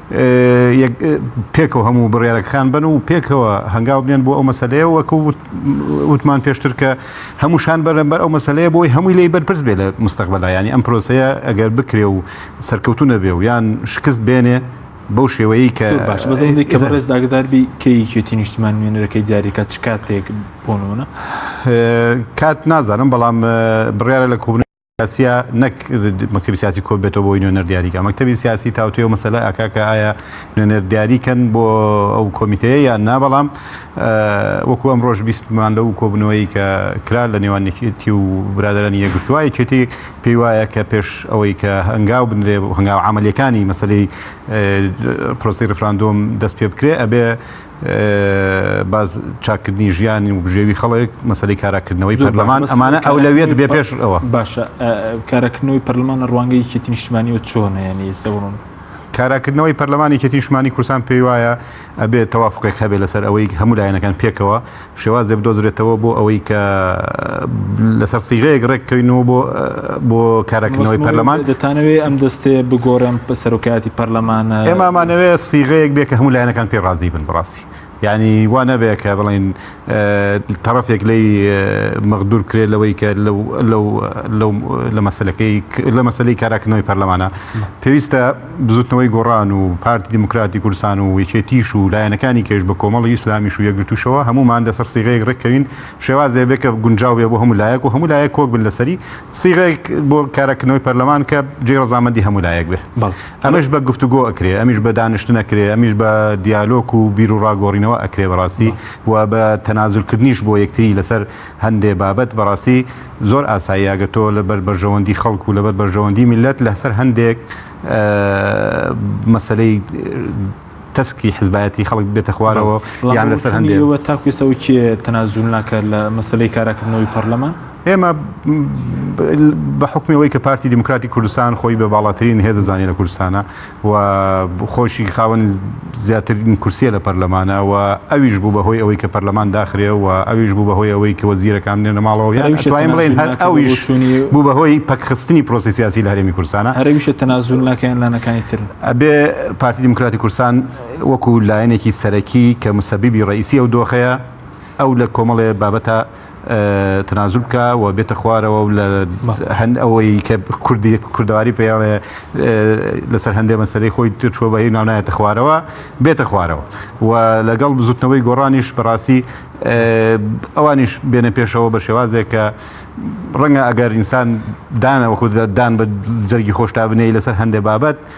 پێکەوە هەموو بڕیارەکەکان بەن و پێکەوە هەنگاو بنێن بۆ ئەو مەسلەیە وەکو وتمان پێشتر کە هەمووشان بەرەمبەر ئەو مەسلەیە بۆی هەمووی لی بەرپرس بێ لە مستەقبلا ینی ئەم پرۆسەیە ئەگەر بکرێ و سەرکەوتو نەبێ و یان شکست بێنێ بەو شێوەیە کە باش بەزەی کە ڕێز داگداربی کەیکێتی نیشتمان نوێنەرەکەی دیارەکە چ کاتێک بۆنەوەە کات نازانم بەڵام بڕیاە لە کوبن سیاسیە نەک مەکتبی سیاسی کۆ بێتەوە بۆی نوێنەر دیاریکە مەکتبی سیاسی تاوتێ و مەسەلا ئاکاکە ئایا نوێنەر دیاریکەن بۆ ئەو کۆمیتەیە یان نا بەڵام وەکو ئەم ڕۆژ بیستمان لەو کۆبنەوەی کە کرا لە نێوان یەکێتی و برادرانی یەکگرتووە یەکێتی پێی وایە کە پێش ئەوەی کە هەنگاو بنرێ هەنگاو عملیەکانی مەسلەی پرۆسی ڕفراندۆم دەست پێ بکرێ ئەبێ باز چاکردنی ژیانی و بژێوی خەڵک مەسلی کاراکردنەوەی پەرلەمان ئەمانە ئەو لەوێت بێ پێش ئەوە باشە کارەکردنەوەی پەرلەمان لە ڕوانگەی کێتی نیشتمانیوە چۆنیانی سەوڕون کاراکردنەوەی پەرلەمانی کێتی نیشتمانی کوردستان پێی وایە ئەبێت تەوافقێک هەبێت لەسەر ئەوەی هەموو لایەنەکان پێکەوە شێوازێ بدۆزرێتەوە بۆ ئەوەی کە لەسەر سیغەیەک ڕێک کەوینەوە بۆ بۆ کارەکردنەوەی پەرلەمان دەتانەوێ ئەم دەستێ بگۆڕێن بە سەرۆکایەتی پەرلەمانە ئێمامانەوێ سیغەیەک بێ کە هەموو لایەنەکان پێ ڕازی بن بڕاستی یعنی وا نەبێ کە بڵین تەرەفێک لی مەغدور کرێ لەوەی کە لە مەسلەکەی لە مەسلەی کاراکردنەوەی پەرلەمانە پێویستە بزوتنەوەی گۆڕان و پارتی دیموکراتی کوردستان و یەکێتیش و لایەنەکانی کەش بە کۆمەڵی ئیسلامیش و یەکگرتووشەوە هەموومان لەسەر سیغەیەک ڕێککەوین شێواز دەبێت کە گونجاو بێت بۆ هەموو لایەک و هەموو لایەک کۆک بن لەسەری سیغەیەک بۆ کارکردنەوەی پەرلەمان کە جێی ڕەزامەندی هەموو لایەک بێت ئەمەش بە گفتوگۆ ئەکرێ ئەمیش بە دانیشتن ئەکرێ ئەمیش بە دیالۆک و بیروڕا گۆڕینەوە ئەکرێ بەڕاستی و بە تەنازولکردنیش بۆ یەکتری لەسەر هەندێ بابەت بەڕاستی زۆر ئاسایی ئەگەر تۆ لەبەر بەرژەوەندی خەڵک و لەبەر بەرژەوەندی میللەت لەسەر هەندێک مەسلەی تەسکی حزبایەتی خەڵک بێتە خوارەوە یان لەسەر هەندێەوە تاکوێسەوە کێ تەنازول ناکات لە مەسلەی کاراکردنەوەی پەرلەمان ئێمە بە حکمەوەی کە پارتی دیموکراتی کوردستان خۆی بە باڵاترین هێزە زانانی لە کوردستانە و خۆشی خاوەنی زیاترین کورسیە لە پەرلەمانە و ئەویش بوو بەهۆی ئەوەی کە پەرلەمان داخرێ و ئەویش بوو بەهۆی ئەوەی کە وەزیرەکان بنێنە ماڵەوە یان توانین بڵێن هەر ئەویش بوو بەهۆی پەکخستنی پرۆسی سیاسی لە هەرێمی کوردستانە هەرەویشە تەنازول ناکەیان لانەکانی تر ئەبێ پارتی دیموکراتی کوردستان وەکو لایەنێکی سەرەکی کە مسەبیبی ڕئیسی ئەو دۆخەیە ئەو لە کۆمەڵێ بابەتە تەنازول بکا و بێتە خوارەوە و لە هەند ئەوەی کە کوردی کوردواری پێڵێ لەسەر هەندێ مەسەری خۆی ترچوە بە هی ناونایەتە خوارەوە بێتە خوارەوە و لەگەڵ بزوتنەوەی گۆڕانیش بەڕاستی ئەوانیش بێنە پێشەوە بە شێوازێک کە ڕەنگە ئەگەر ئینسان دانەوە خود دان بە جەرگی خۆشتا بنێی لەسەر هەندێ بابەت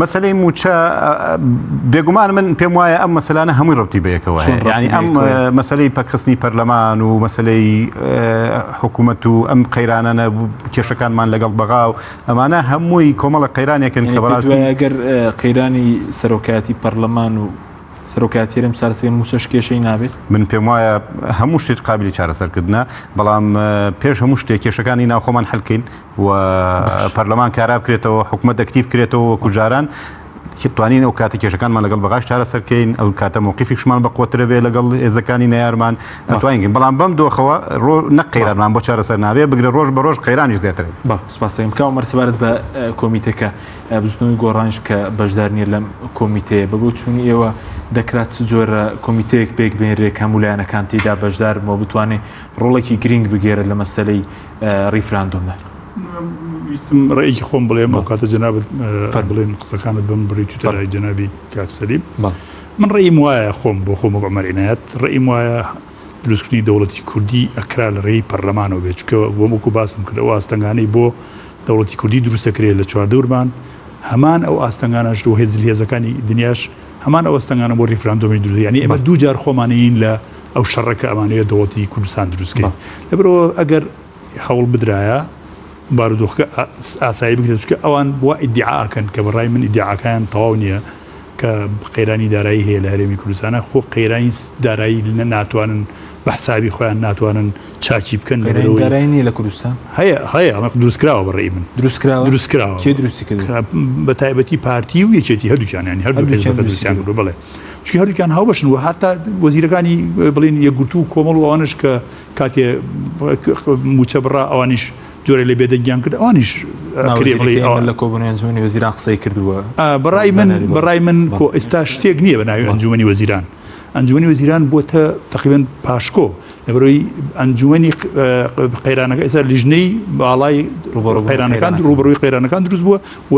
مەسلەی موچە بێگومان من پێم وایە ئەم مەسلانە هەمووی ڕوتی بەیەکەوە ینی ئەم مەسلەی پەکخستنی پەرلەمان و مەسلەی حکوومەت و ئەم قەیرانانە کێشەکانمان لەگەڵ بەغا و ئەمانە هەمووی کۆمەڵە قەیرانێکن کە بەڕاستی ئەگەر قەیرانی سەرۆکایەتی پەرلەمان و سەرۆکاتێرم چارەسەری موچەش کێشەی نابێت من پێم وایە هەموو شتێک قابلی چارەسەرکردە بەڵام پێش هەموو شتێک کێشەکانی ناوخۆمان هەلکەین و پەرلەمان کارا بکرێتەوە حکوومەت ئەکتیف کرێتەوە وەکو جاران توانین ئەو کاتە کێشەکانمان لەگەڵ بەغاش چارەسەرکەین ئەو کاتە موقیفیشمان بە قوترە بێ لەگەڵ ئێزەکانی نەیارمان توانین بەڵام بەم دۆخەوە ڕۆ نە قەیرانمان بۆ چارەسەر نابێ بگرە ڕۆژ بە ڕۆژ قەیرانی زیاتر بە سپاستەکەم کاو مەرسبارەت بە کۆمیتەکە بزنەوەی گۆڕانش کە بەشدار نیە لەم کۆمیتەیە بە بۆ چوونی ئێوە دەکرات جۆرە کۆمیتەیەک پێک بێنرێک هەمولایەنەکان تێدا بەشدار بۆ بتوانێت ڕۆڵێکی گرنگ بگێرە لە مەسلەی ڕیفراندۆمە. ویستم ڕێکی خۆم بڵێم بۆ کاتە جەنابەت فەر بڵێن قسەکانت بم بڕی تو تەلای جەنابی کاکسەلیم من ڕێیم وایە خۆم بۆ خۆم بەمەرینایەت ڕێیم وایە دروستکردنی دەوڵەتی کوردی ئەکرا لە ڕێی پەرلەمانەوە بێت چکە بۆ وەکو باسم کرد ئەو ئاستەنگانەی بۆ دەوڵەتی کوردی دروستەکرێت لە چواردەورمان هەمان ئەو ئاستەنگانەش و هێزل هێزەکانی دنیاش هەمان ئەوەستەنگانە بۆ ریفراندۆمی دروست یعنی ئێمە دوو جار خۆمانین لە ئەو شەڕە کە ئەمانەیە دەوڵەتی کوردستان دروستکە لەبرەوە ئەگەر هەوڵ بدرایە بارودۆخکە ئاسایی بگرێت چکە ئەوان بۆ ئیدعاکەن کە بەڕای من ئیدعاکان تەواو نییە کە قەیرانی دارایی هەیە لە هەرێمی کوردستانە خۆ قەیرانی دارایی لە ناتوانن بە حسابی خۆیان ناتوانن چاچی بکەن لەرێنی لە کوردستان هەیە هەیە ئەمە دروستکراوە بەڕێی من دروستکراوە دروستکراوە دروستی بە تایبەتی پارتی و یەکێتی هەردووچانیان هەردوو دروستیان بڵێ چی هەردووکیان هاوبەشن و هەتا وەزیرەکانی بڵین یەکگرتو و کۆمەڵ ئەوانش کە کاتێ موچە بڕا ئەوانیش جۆرە لە بێدەنگیان کرد ئەوانیش لە کۆبنیانجوانی وەزیران قسەی کردووە بەڕای من بەڕای من کۆ ئێستا شتێک نییە بە ناوی ئەنجومی وەزیران ئەنجومی وەزیران بۆتە تقریبن پاشکۆ لەبەرەوەی ئەنجومی قەیرانەکە ئێستا لیژنەی باڵای قەیرانەکان ڕوبڕوی قەیرانەکان دروست بووە و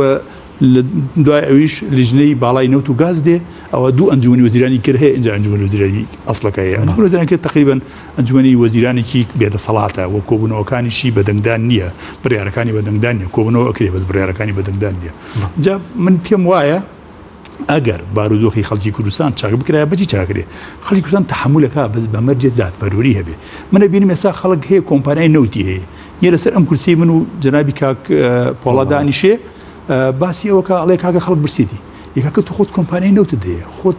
لە دوای ئەویش لیژنەی باڵای نەوت و گاز دێ ئەوە دوو ئەنجومی وەزیرانی کرد هەیە ئەنجا ئەنجومی وەزیرانی ئەسڵەکە هەیە ئەنجومەزیرانەکە تقریبا ئەنجومی وەزیرانێکی بێدەسەڵاتە و کۆبوونەوەکانیشی بەدەنگدان نییە بڕیارەکانی بەدەنگدان نیە کۆبنەوە ئەکرێ بەس بڕیارەکانی بەدەنگدان نیە جا من پێم وایە ئەگەر بارودۆخی خەڵکی کوردستان چاک بکرای بەجی چاکرێ خەڵکی کوردستان تحملەکە بەس بەمەرجێت دادپەروری هەبێ منە بینی مێسا خەڵک هەیە کۆمپانای نەوتی هەیە یە لەسەر ئەم کورسی من و جنابی کاک پۆڵادانیشێ باسی ئەوە کە ئەڵێ کاکە خەڵک برسیدی یەکەکە تو خۆت کۆمپانیای نەوتت دەیە خۆت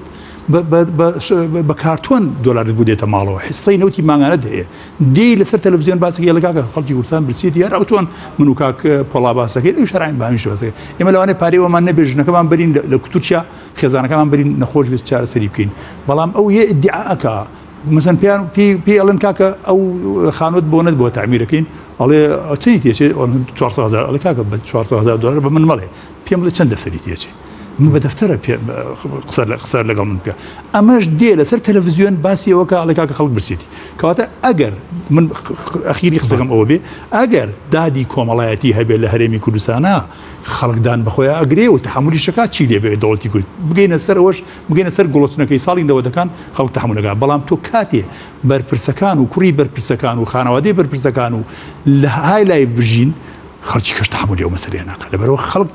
بە کارتۆن دۆلارت بوو دێتە ماڵەوە حسەی نەوتی ماگانت هەیە دی لەسەر تەلەڤزیۆن باسی لەگاکە خەڵکی کوردستان برسیت یار ئەو چۆن من و کاک پۆڵا باسەکەی ئەو شراین بامیش بەسەکە ئێمە لەوانێ پارێوەمان نەبێ ژنەکەمان برین لە کتورچیا خێزانەکەمان برین نەخۆش بێت چارەسەری بکەین بەڵام ئەو یە ئیدعاکە مەسەن پێیان پێ پێ ئەڵێن کاکە ئەو خانوت بۆ نەت بۆ تعمیرەکەین ئەڵێ چی تێچێ 400هزار ئەڵێ کاکە بە 400هزار دلار بە من مەڵێ پێم لە چەند دەفتەری تێچێ من بە دەفتەرە قسە لە قسە لەگەڵ من بکە ئەمەش دێ لەسەر تەلەڤزیۆن باسیەوە کە ئەڵێ کاکە خەڵک برسێتی کەواتە ئەگەر من ئەخیری قسەکەم ئەوە بێ ئەگەر دادی کۆمەڵایەتی هەبێت لە هەرێمی کوردستانە خەڵکدان بەخۆیان ئەگرێ و تحملی شکات چی لێبێ دەوڵەتی کورد بگەینە سەرەوەش بگەینە سەر گڵۆچنەکەی ساڵی نەوەدەکان خەڵک تەحەموول نەکا، بەڵام تۆ کاتێ بەرپرسەکان و کوڕی بەرپرسەکان و خانەوادەی بەرپرسەکان و لە های لایڤ بژین خەڵکی کەش تەحەموولی ئەو مەسەلەیە ناکا لەبەرەوە خەڵک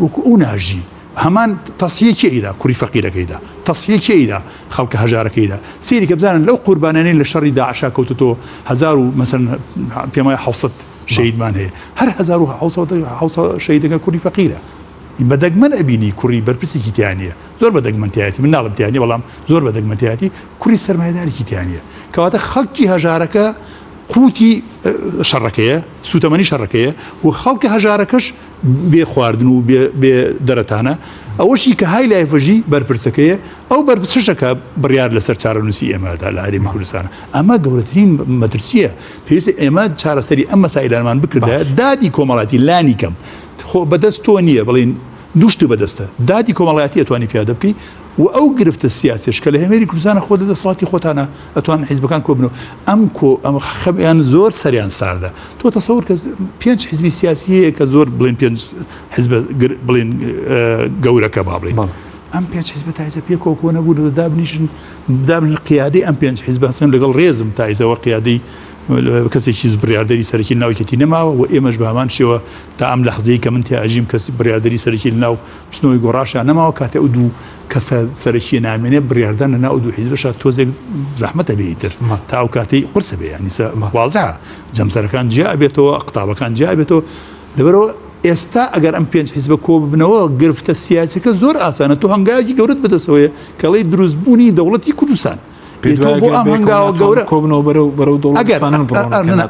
وەکو ئەو ناژی هەمان تەسیە کێیدا کوڕی فەقیرەکەیدا تەسیە کێیدا خەڵکە هەژارەکەیدا سیری کە بزانن لەو قوربانانی لە شەڕی داعشا کەوتۆ هزار و مەسن پێمای حوسەت شەیدمان هەیە هەر هزار و شەیدەکە کوردی فەقیرە بە دەگمەن ئەبینی کوڕی بەرپرسێکی تیا نییە زۆر بە دەگمەن تایەتی من ناڵم تیانی بەڵام زۆر بە دەگمە تایەتی کوڕی سەرمایدارێکی تیا نییە کەواتە خەڵکی هەژارەکە قوتی شەڕەکەیە سوتەمەنی شەڕەکەیە و خەڵکە هەژارەکەش بێ خواردن و بێ دەرەتانە ئەوەشی کە های لایفەژی بەرپرسەکەیە ئەو بەرپسشەکە بڕیار لەسەر چارەنووسی ئێمەدا لە هەرێمی کوردستانە ئەمە گەورەترین مەترسیە پێویست ئێمە چارەسەری ئەم مەسایلانمان بکردە دادی کۆمەڵاتی لانی کەم خۆ بەدەست تۆ نییە بڵێین دوو شت بەدەستە، دادی کۆمەڵایەتی ئەتوانی پیادە بکەی و ئەو گرفتە سیاسیەش کە لە هەێری کوردستانە خۆ لە دەسەڵاتی خۆتانە ئەتوان حیزبەکان کۆ بنەوە ئەم کۆ ئەم خەبیان زۆر سەریان ساردە تۆ تەسەور کە پێنج حیزبی سیاسی هەیە کە زۆر بڵێن پێنج حزب بڵێن گەورەکە با بڵێن. ئەم پێنج حزب تایزە پێ کۆکۆ نەبوو دابنیشن دابن قیادی ئەم پێنج حزبسن لەگەڵ ڕێزم تایزەوە قیادی کەسێکیس بڕیاردەری سەرەکی لەناو یەکێتی نەماوە و ئێمەش بە هەمان شێوە تا ئەم لەحزەیە کە من تیا ئەژیم کەسی بڕیاردەری سەرەکی لەناو بچنەوەی گۆڕاشیان نەماوە کاتێ ئەو دوو کەسە سەرەکیە نامێنێ بڕیاردان لەناو ئەو دوو حیزبەشە تۆزێک زەحمەتە بێتر تا ئەو کاتەی قرسە بێ یانیسە مەخوازە جەمسەرەکان جیا ئەبێتەوە قوتابەکان جیا ئەبێتەوە لەبەرەوە ئێستا ئەگەر ئەم پێنج حیزبە کۆ ببنەوە گرفتە سیاسەکە زۆر ئاسانە تۆ هەنگاوی گەورت بەدەسەوەیە کەڵی دروستبوونی دەوڵەتی کوردستان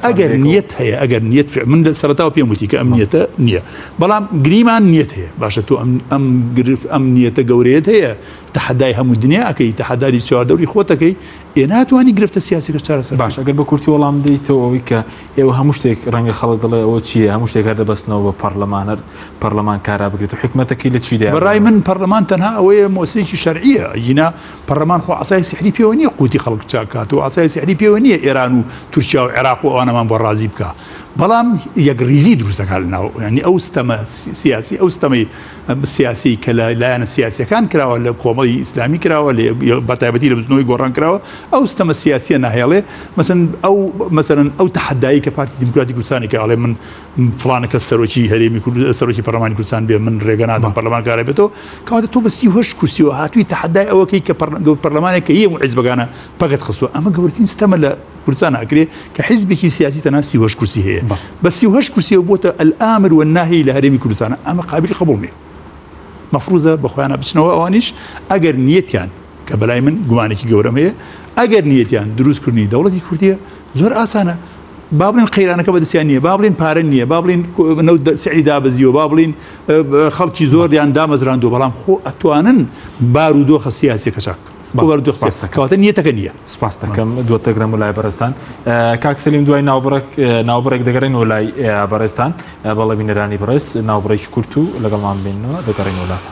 ئەگەر نیت هەیە ئەگەر نیت من لە سەرتاوە پێم وتی کە ئەم نیەتە نییە بەڵام گریمان نیت هەیە باشە تۆ ئەم گرف ئەم نیەتە گەورەیەت هەیە تەحدای هەموو دنیا ئەەکەی تەحداری چواردەوری خۆتەکەی ئێ ناتوانانی گرفتە سیاسەکە چارەسەر باش ئەگەر بە کورتی وەڵام دیتەوە ئەوی کە ئێوە هەموو شتێک ڕەنگە خەڵک دڵێ ئەوە چیە هەموو شتێک هەر دەبستنەوە بە پەرلەمانەر پەرلەمان کارا بگرێت و حکومەتەکەی لە چیدا بەڕای من پەرلەمان تەنها ئەوەیە مۆسیکی شەرعە ینا پەڕلەمان خۆ عەسای سیحری پێوە نییە قوتی خەڵک چاک کات و عەسای سیحری پێوە نییە ئێران و تورکیا و عێراق و ئەوانەمان بۆ ڕازی بکا بەڵام یەکڕیزی دروستەکان لە ناو ینی ئەو ستەمە سیاسی ئەو ستەمەی سیاسی کە لە لایەنە سیاسەکان کراوە لە کۆمەڵی ئیسلامی کراوە لە بەتایبەتی لە بزنەوەی گۆڕان کراوە ئەو ستەمە سیاسیە ناهێڵێ مەسن ئەو مەسەرن ئەو تحدایی کە پارتی دیموکراتی کوردستانی کە ئەڵێ من فڵانە کەس سەرۆکی هەرێمی کورد سەرۆکی پەرلەمانی کوردستان بێ من ڕێگە نادەم پەرلەمانکارە بێتەوە کەواتە تۆ بە سی هەشت کورسیەوە هاتووی تەحەدای ئەوەکەی کە پەرلەمانێک کە هەیە و حیزبەکانە پەکت خستووە ئەمە گەورترین ستەمە لە کوردستان ئاکرێ کە حیزبێکی سیاسی تەنها سی هەشت کورسی هەیە بە سی هەشت کورسیەوە بۆتە ئەلامر و ناهی لە هەرێمی کوردستانە ئەمە قابلی قبول نیە مەفروزە بە خۆیانە بچنەوە ئەوانیش ئەگەر نیەتیان کە بەلای من گومانێکی گەورەم هەیە ئەگەر نیەتیان دروستکردنی دەوڵەتی کوردیە زۆر ئاسانە با بڵین قەیرانەکە بەدەستیان نییە با بڵین پارە نییە با بڵین سعی دابزیەوە با بڵین خەڵکی زۆر یان دامەزراندو بەڵام خۆ ئەتوانن بار و دۆخە سیاسی کەچاک کەواتە نیەتەکە نیە سپاس دەکەم دووە تەگرم و لای بەرستان کاک سلیم دوای ناوبڕک ناوبڕێک دەگەڕێن و لای بەڕێستان بەڵێ بینەرانی بڕێز ناوبڕێکی کورت و لەگەڵمان بینەوە دەگەڕێن وڵاتە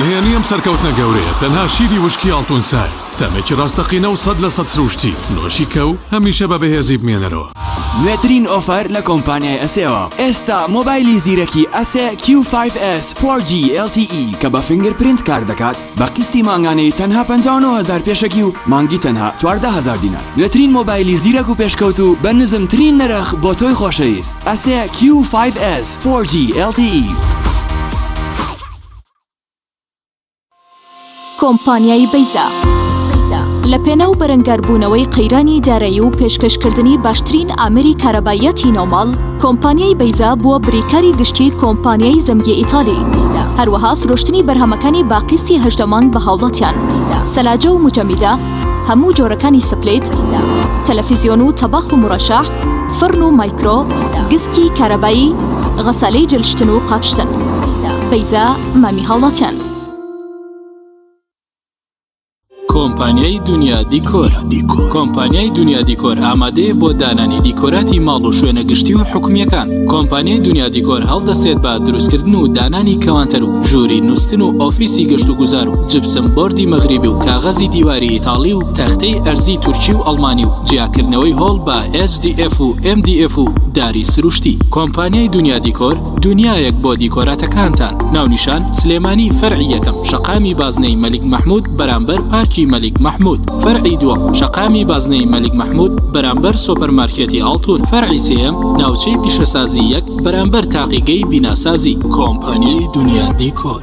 نهێنی ئەم سەرکەوتنە گەورەیە تەنها شیری وشکی ئاڵتونسای تەمێکی ڕاستەقینە و سەد لە سەد سروشتی نۆشی کە و هەمیشە بە بەهێزی بمێنەرەوە نوێترین ئۆفەر لە کۆمپانیای ئەسێەوە ئێستا مۆبایلی زیرەکی ئەسێ Q5S 4G LTE کە بە فنگر پرینت کار دەکات بە قیستی مانگانەی تەنها پەنجا و نۆ هەزار پێشەکی و مانگی تەنها چواردە هەزار دینار نوێترین مۆبایلی زیرەک و پێشکەوتوو بە نزمترین نرخ بۆ تۆی خۆشەویست ئەسێ Q5S 4G LTE کۆمپانیای بەیزا لە پێناو بەرەنگاربوونەوەی قەیرانی دارایی و پێشکەشکردنی باشترین ئامری کارەباییەتی نۆماڵ کۆمپانیای بەیزا بووە بریکاری گشتی کۆمپانیای زەمگی ئیتالی هەروەها فرۆشتنی بەرهەمەکانی با قیستی هەژدە مانگ بە هاوڵاتیان سەلاجە و مجەمیدە هەموو جۆرەکانی سپلیت تەلەفیزیۆن و تەباخ و مڕەشە فڕن و مایکرۆ گسکی کارەبایی غەسالەی جلشتن و قاپشتن بەیزا مامی هاوڵاتیان کۆمپانیای دنیا دیکۆر دیکۆر کۆمپانیای دنیا دیکۆر ئامادەیە بۆ دانانی دیکۆراتی ماڵ و شوێنە گشتی و حکومیەکان کۆمپانیای دنیا دیکۆر هەڵدەستێت بە دروستکردن و دانانی کەوانتەر و ژووری نووسن و ئۆفیسی گەشت و گوزار و جبسم بردی مەغریبی و کاغەزی دیواری ئیتاڵی و تەختەی ئەرزی تورکی و ئەڵمانی و جیاکردنەوەی هۆڵ بە SDF و MDF و داری سروشتی کۆمپانیای دنیا دیکۆر دونیایەک بۆ دیکۆراتەکانتان ناونیشان سلێمانی فەرعی یەکەم شەقامی بازنەی مەلیک مەحمود بەرامبەر پارکی مەلیک مەحمود فەرعی دووەم شەقامی بازنەی مەلیک مەحمود بەرامبەر سۆپەرمارکێتی ئاڵتون فەرعی سێەم ناوچەی پیشەسازی یەک بەرامبەر تاقیگەی بیناسازی کۆمپانی دونیا دیکۆر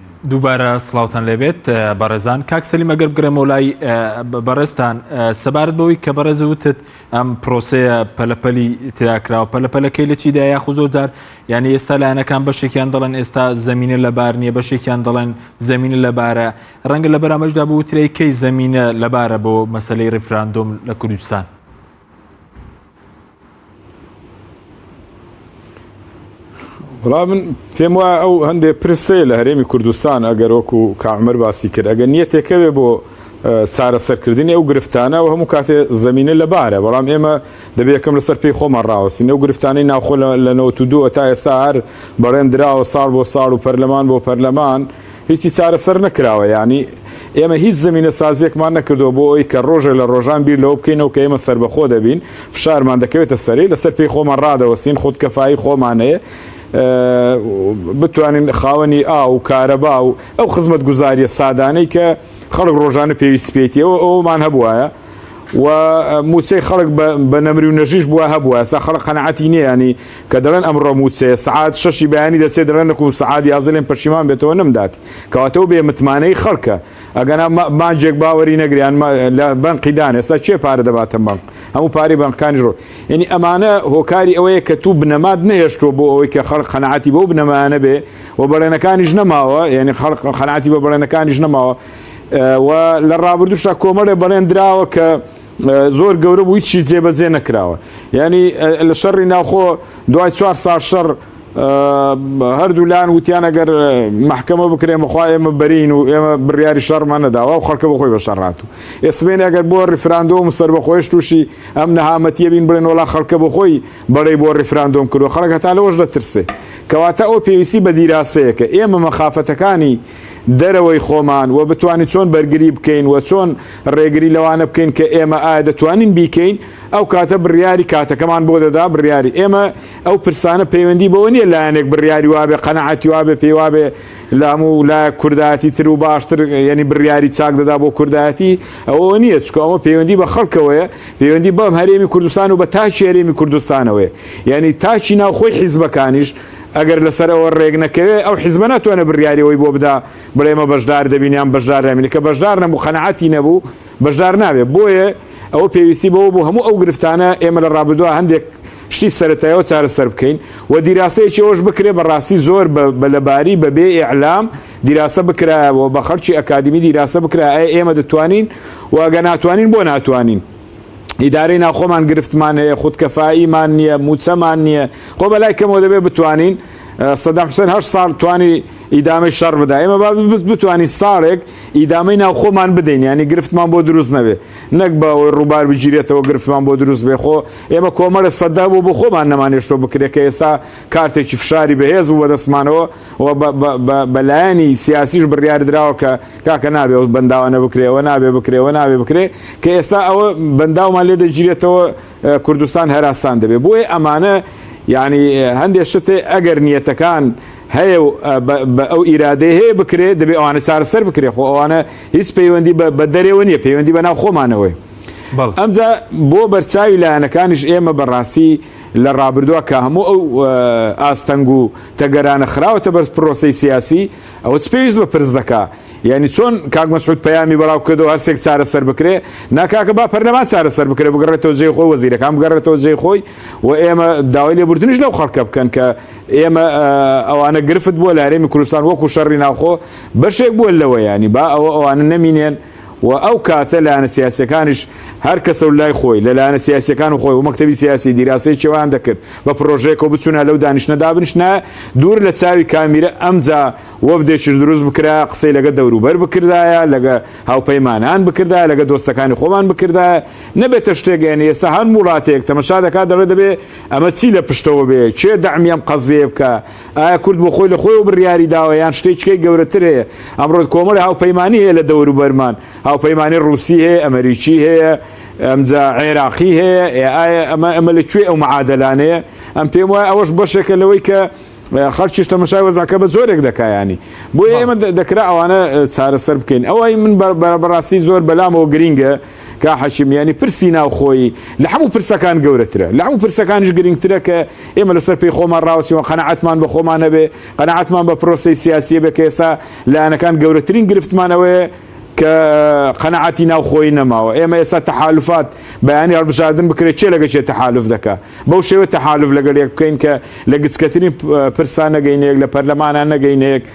دووبارە سڵاوتان لێبێت بەڕێزان کاک سەلیم ئەگەر بگرێمەوە لای بەڕێزتان سەبارەت بەوەی کە بەڕێز وتت ئەم پرۆسەیە پەلەپەلی تیاکراوە پەلەپەلەکەی لە چیدا یاخ و زۆر جار یعنی ئێستا لایەنەکان بەشێکیان دەڵێن ئێستا زمینە لە بار نییە بەشێکیان دەڵێن زمینە لەبارە ڕەنگە لە بەرامەشدا بوترەی کەی زمینە لەبارە بۆ مەسلەی ڕیفراندۆم لە کوردستان بەڵام من پێم وایە ئەو هەندێک پرسێ لە هەرێمی کوردستان ئەگەر وەکو کامەر باسی کرد ئەگەر نیەتێکەوێ بۆ چارەسەرکردنی ئەو گرفتانە و هەموو کاتێ زمینە لە بارە بەڵام ئێمە دەبێتکەم لەسەر پێی خۆمان ڕاوەستین ئەو گرفتانی ناوخۆ لە نەوە دووە تا ئێستا هەر بەڕێن دراوە ساڵ بۆ ساڵ و پەرلەمان بۆ پەرلەمان هیچی چارەسەر نەکراوە یانی ئێمە هیچ زەمینە سازیەکمان نەکردوە بۆ ئەوەی کە ڕۆژێ لە ڕۆژان بیر لەوە بکەینەوە کە ئێمە سەربەخۆ دەبین فشارمان دەکەوێتە سەری لەسەر پێی خۆمان ڕادەوەستین خود کەفایی خۆمان هەیە بتوانین خاوەنی ئاو و کارەبا و ئەو خزمەت گوزاریە سادانەی کە خەڵک ڕۆژانە پێویست پێیتەوە ئەومان هەبواە و موچەی خەڵک بە نەمری و نەژیش بووە هەبووە ئێستا خەڵک قەنەعەتی نییانی کە دەڵێن ئەمڕۆ موچەیە سعات شەشی بەیانی دەچێت دەڵێن نەکوم سعات یازلێن پەشیمان بێتەوە نەمدات کەواتەوە بێ متمانەی خەڵکە ئەگەنا مانجێک باوەری نەگریان لە بەنقی دان ئێستا چێ پارە دەباتە بەنق هەموو پارەی بەنقەکانی ڕۆ یعنی ئەمانە هۆکاری ئەوەیە کە تو بنەمات نەهێشتووە بۆ ئەوەی کە خەڵک قەنەعەتی بۆ بنەمانە بێ و بەڵێنەکانیش نەماوە یعنی خەڵق قەنعاتی بە بڵێنەکانیش نەماوە و لە ڕابردوشا کۆمەڵێ بەڵێن دراوە کە زۆر گەورە بوو هیچی جێبەجێ نەکراوە یعنی لە شەڕی ناوخۆ دوای چوار سا شەڕ هەردوو لاان وتیان ئەگەر محکمە بکرێ مخوا ئێمە بەرین و ئێمە بڕیاری شەرمان نەداوە و خەڵکە بەخۆی بە شەڕات و ئێسمێن ئەگەر بۆ ریفراندۆم و سربەخۆش تووشی ئەم نەهامەتیە بین بڵێن وڵا خەڵکە بخۆی بەڵێ بۆ ریفراندۆم کردو خەڵک هەتا لەەوەش دەترسێ کەواتە ئەو پێویستی بە دیراسەیەکە ئێمە مەخافەتەکانی دەرەوەی خۆمان و بتوانین چۆن بەرگری بکەین و چۆن ڕێگری لەوانە بکەین کە ئێمە ئایا دەتوانین بیکەین ئەو کاتە بڕیاری کاتەکەمان بۆ دەدا بڕیاری ئێمە ئەو پرسانە پەیوەندی بەوە نییە لایەنێک بڕیاری وابێ قەنەعاتی وابێ پێی وابێ لە هەموو لا کوردایەتی تر و باشتر یعنی بڕیاری چاک دەدا بۆ کوردایەتی ئەوە نییە چکە ئەوە پەیوەندی بە خەڵکەوەیە پەیوەندی بەم هەرێمی کوردستان و بە تاچی هەرێمی کوردستانەوەی یعنی تاچی ناوخۆی حیزبەکانیش ئەگەر لەسەر ئەوە رێک نەکەوێت ئەو حزبە ناتوانێت بریاری ئەوەی بۆ بدا بڵێ ئێمە بەشدار دەبین یان بەشدار نابین کە بەشدار نەبوو قەناعەتی نەبوو بەشدار نابێت بۆیە ئەوە پێویستی بەوە بوو هەموو ئەو گرفتانە ئێمە لە ڕابردووە هەندێک شتی سەرەتایەوە چارەسەر بکەین و دیراسەیەکی ئەوش بکرێ بەڕاستی زۆر بە لەباری بەبێ ئیعلام دیراسە بکرایەوە بە خەڵکی ئەکادمی دیراسە بکرا ئەی ئێمە دەتوانین واگە ناتوانین بۆ ناتوانین ئیدارەی ناوخۆمان گرفتمان هەیە خودکەفاییمان نییە موچەمان نییە خۆ بەلای کەمەوە دەبێت بتوانین سەدام حوسێن هەر ساڵ توانی ئیدامەی شەڕ بدا ئێمە با بتوانین ساڵێک ئیدامەی ناو خۆمان بدەین ینی گرفتمان بۆ دروست نەبێ نەک بە ئەوەی ڕووبار بگیرێتەوە گرفتمان بۆ دروست بێ خۆ ئێمە کۆمەرە سەدا بوو بۆ خۆمان نەمانێشتۆ بکرێت کە ئێستا کارتێکی فشاری بەهێز بوو بەدەستمانەوە و بە لایەنی سیاسیش بڕیار دراوە کە کاکە نابێ و بەنداوانە بکرێەوە نابێ بکرێەوە نابێ بکرێ کە ئێستا ئەوە بەنداومان لێ دەگیرێتەوە کوردستان هەراستان دەبێ بۆیە ئەمانە یعنی هەندێک شتێ ئەگەر نیەتەکان هەیە و بە ئەو ئیرادەی هەیە بکرێ دەبێ ئەوانە چارەسەر بکرێ خۆ ئەوانە هیچ پەیوەندی بە دەرێەوە نیە پەیوەندی بە ناو خۆمانەوەی ئەمجا بۆ بەرچاوی لایەنەکانیش ئێمە بەڕاستی لە ڕابردووە کە هەموو ئەو ئاستەنگ و تەگەرانە خراوەتە بەر پرۆسەی سیاسی، ئەوە چ پێویست بە پرس دەکا؟ یانی چۆن کاک مەسعود پەیامی بڵاو کردەوە هەر سێک چارەسەر بکرێ؟ نا کاکە با پەرلەمان چارەسەر بکرێ بگەڕێتەوە جێی خۆی وەزیرەکان بگەڕێتەوە جێی خۆی و ئێمە داوای لێبوردنیش لەو خەڵکە بکەن کە ئێمە ئەوانە گرفت بووە لە هەرێمی کوردستان وەکو شەڕی ناوخۆ بەشێک بووە لەوە یانی با ئەوە ئەوانە نەمینێن و ئەو کاتە لایەنە سیاسیەکانیش هەر کەسە و لای خۆی، لە لایەنە سیاسیەکان و خۆی و مەکتەبی سیاسی دیراسەی چێوەیان دەکرد بە پرۆژەیەک و بچونایە لەو دانیشتنە دابنیشنایە دوور لە چاوی کامیرە ئەمجا وەفدێکیش دروست بکرایە قسەی لەگە دەوروبەر بکردایە لەگە هاوپەیمانان بکردایە لەگە دۆستەکانی خۆمان بکردایە نەبێتە شتێک یانی ئێستا هەر ووڵاتێک تەمەشا دەکات دەڵێ دەبێ ئەمە چی لە پشتەوە بێ کێ دەعمی ئەم قەزیەیە بکا ئایا کورد بۆ خۆی لە خۆیەوە بڕیاری داوە یان شتێکچکەی گەورەتر هەیە ئەمڕۆت کۆمەڵی هاوپەیمانانی هەیە لە دەوروبەرمان هاوپەیمانانی ڕوسی هەیە ئەمریکی هەیە ئەمجا عێراقی هەیە ئایا ئەمە ئەمە لە کوێ ئەو معادلانەیە ئەم پێم وایە ئەوەش بەشێکە لەوەی کە خەرچیش تەمەشای وەزاکە بە زۆرێک دەکایانی بۆ ئێمە دەکرا ئەوانە چارەسەر بکەین ئەوەی من بەڕاستی زۆر بەلامەوە گرینگە کا حەشمیانی پرسی ناوخۆیی لە هەموو پرسەکان گەورەترە لە هەموو پرسەکانیش گرنگترە کە ئێمە لەسەر پێی خۆمان ڕاوسیەوە قەنەعاتمان بە خۆمان هەبێ قەنەعاتمان بە پرۆسی سیاسیە بێ کە ئێستا لایەنەکان گەورەترین گرفتمانەوەیە کە قەنەعاتی ناوخۆی نەماوە ئێمە ئێستا تەحالفات بەیانی هەڵبژاردن بکرێت چێ لەگە چێ تەحالف دەکە بەو شێوە تەحالف لەگەل یەک بکەین کە لە گچکەترین پرسان نەگەینەیەک لە پەرلەمانان نەگەینەیەک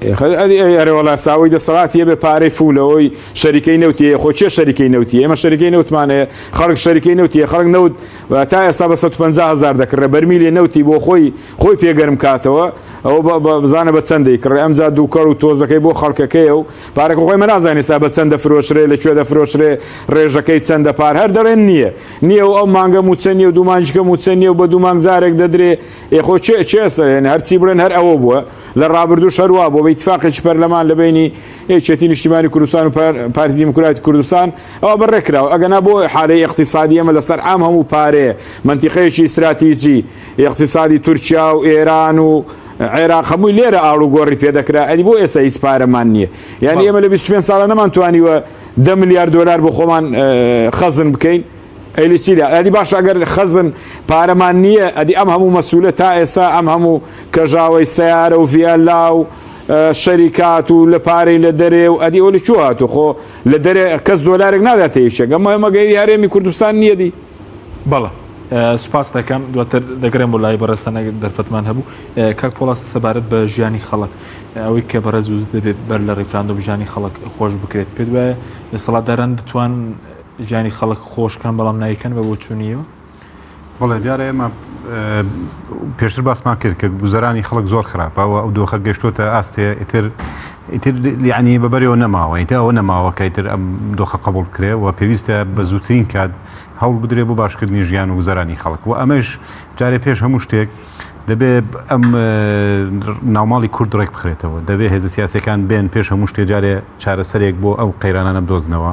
ئەرێ وەڵا ساوەی دەسەڵاتی هەبێ پارەی فولەوەی شەریکەی نەوتیە خۆ چێ شەریکەی نەوتی ئێمە شەریکەی نەوتمانەیە خەڵک شەریکەی نەوتیە خەڵک نەوت تا ئێستا بە 150 هزار دەکڕێ بەرمی لێ نەوتی بۆ خۆی خۆی پێگەرم کاتەوە ئەو بزانە بە چەندی کڕێ ئەمجا دووکەڵ و تۆزەکەی بۆ خەڵکەکەیە و پارەکە خۆی مەنازانانی سا بە چەندە فرۆشرێ لە کوێ دەفرۆشرێ ڕێژەکەی چەندە پار هەر دەڵێن نییە نییە و ئەو مانگە موچە نیە و دوومانجکە موچە نیە و بە دوومانگ جارێک دەدرێ ئێ خۆ چێ چێسە یعنی هەرچی بڵێن هەر ئەوە بووە لە ڕابردوو شەروا بۆ بە ئیتفاقێکی پەرلەمان لە بینی یەکێتی نیشتیمانی کوردستان و پارتی دیموکراتی کوردستان ئەوە بەڕێکراوە ئەگەنا بۆ حالەی اقتصادی ئەمە لەسەر عام هەموو پارەیە منتیقەیەکی ئیستراتیجی اقتصادی تورکیا و ئێران و عێراق هەمووی لێرە ئاڵوگۆڕی پێدەکرا ئەدی بۆ ئێستا هیچ پارەمان نییە یعنی ئێمە لە 25 ساڵە نەمانتوانی وە دە ملیار دۆلار بۆ خۆمان خەزن بکەین قەیلی چی لە ئەدی باش ئەگەر خەزن پارەمان نییە ئەدی ئەم هەموو مەسوولە تا ئێستا ئەم هەموو کەژاوەی سیارە و ڤیالا و شەریکات و لە پارەی لە دەرێ و ئەدی ئەولی چوە هاتو خۆ لە دەرێ کەس دۆلارێک نادات تێیشێک ئەمە مەگەی هەرێمی کوردستان نییە دی بەڵە سوپاس دەکەم دواتر دەگرێم بۆ لای بەڕێستانە دەرفەتمان هەبوو کاک پۆڵاس سەبارەت بە ژیانی خەڵک ئەوەی کە بەڕێز دەبێت بەر لە ڕیفراندۆم ژیانی خەڵک خۆش بکرێت پێت وایە دەسەڵاتداران دەتوان جانی خەڵک خۆش کەن بەڵام نایکەن بە بۆچوونیەوە. بەڵێ دیارە ئێمە پێشتر باسمان کرد کە گوزەرانی خەڵک زۆر خراپەوە ئەو دۆخە گەشتوتە ئاستێ ئیتر ئیتر یعنی بەبەرەوە نەماوە ئیتە ئەوە نەماوە کە ئیتر ئەم دۆخە قبول کرێ و پێویستە بە زووترین کات هەوڵ بدرێ بۆ باشکردنی ژیان و گوزەرانی خەڵک و ئەمەش جارێ پێش هەموو شتێک دەبێ ئەم ناوماڵی کورد ڕێک بخرێتەوە دەبێ هێزە سیاسەکان بێن پێش هەموو شتێ جارێ چارەسەرێک بۆ ئەو قەیرانانە بدۆزنەوە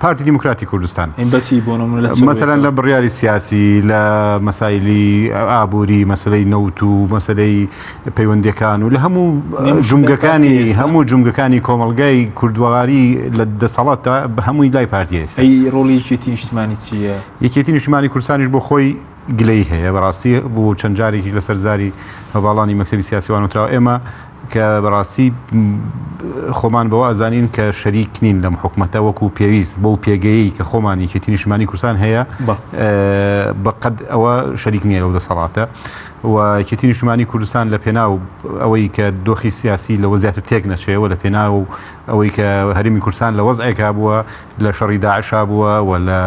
پارتی دیموکراتی کوردستان بەچی بۆ مەسەرەن لە بڕیاری سیاسی لە مەسایلی ئابووری مەسلەی نەوت و مەسلەی پەیوەندەکان و لە هەموو جومگەکانی هەموو جومگەکانی کۆمەلگای کوردواری لە دەسەڵاتە بە هەمووی لای پارتیێس ڕۆڵیکی نیشتمانی چییە یەکێتی نیشتمانی کوردستانیش بۆ خۆی گلەی هەیە بەڕاستی بۆ چەند جارێکی لەسەر زاری هەواڵانی مەکتتەبی سیاسیوانوتراوە ئێمە کە بەڕاستی خۆمان بەوە ئەزانین کە شەریک نین لەم حکومەتە وەکو پێویست بەو پێگەیی کە خۆمان یەکێتی نیشتمانی کوردستان هەیە بەقەد ئەوە شەریک نییە لەو دەسەڵاتە و یەکێتی نیشتمانی کوردستان لە پێناو ئەوەی کە دۆخی سیاسی لەوە زیاتر تێک نەچێەوە لە پێناو ئەوەی کە هەرمی کوردستان لە وەزعێکا بووە لە شەڕی داعشا بووە و لە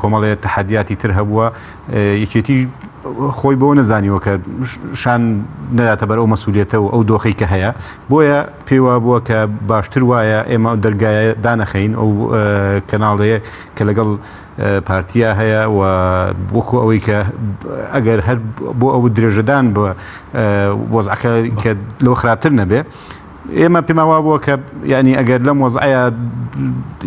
کۆمەڵێت تحدیاتی تر هەبووە یەکێتی خۆی بۆ نەزانیوە کە شان نەداتە بەر ئەو مەسوولێتە و ئەو دۆخی کە هەیە بۆیە پێوا بووە کە باشتر وایە ئێمە دەرگایە دانەخەین ئەو کەناڵەیە کە لەگەڵ پارتیا هەیە و وەکو ئەوەی کە ئەگەر هەر بۆ ئەو درێژەدان بە وەزعەکە کە لەوە خراپتر نەبێ ئێمە پێمان وا بووە کە یعنی ئەگەر لەم وەزعەیە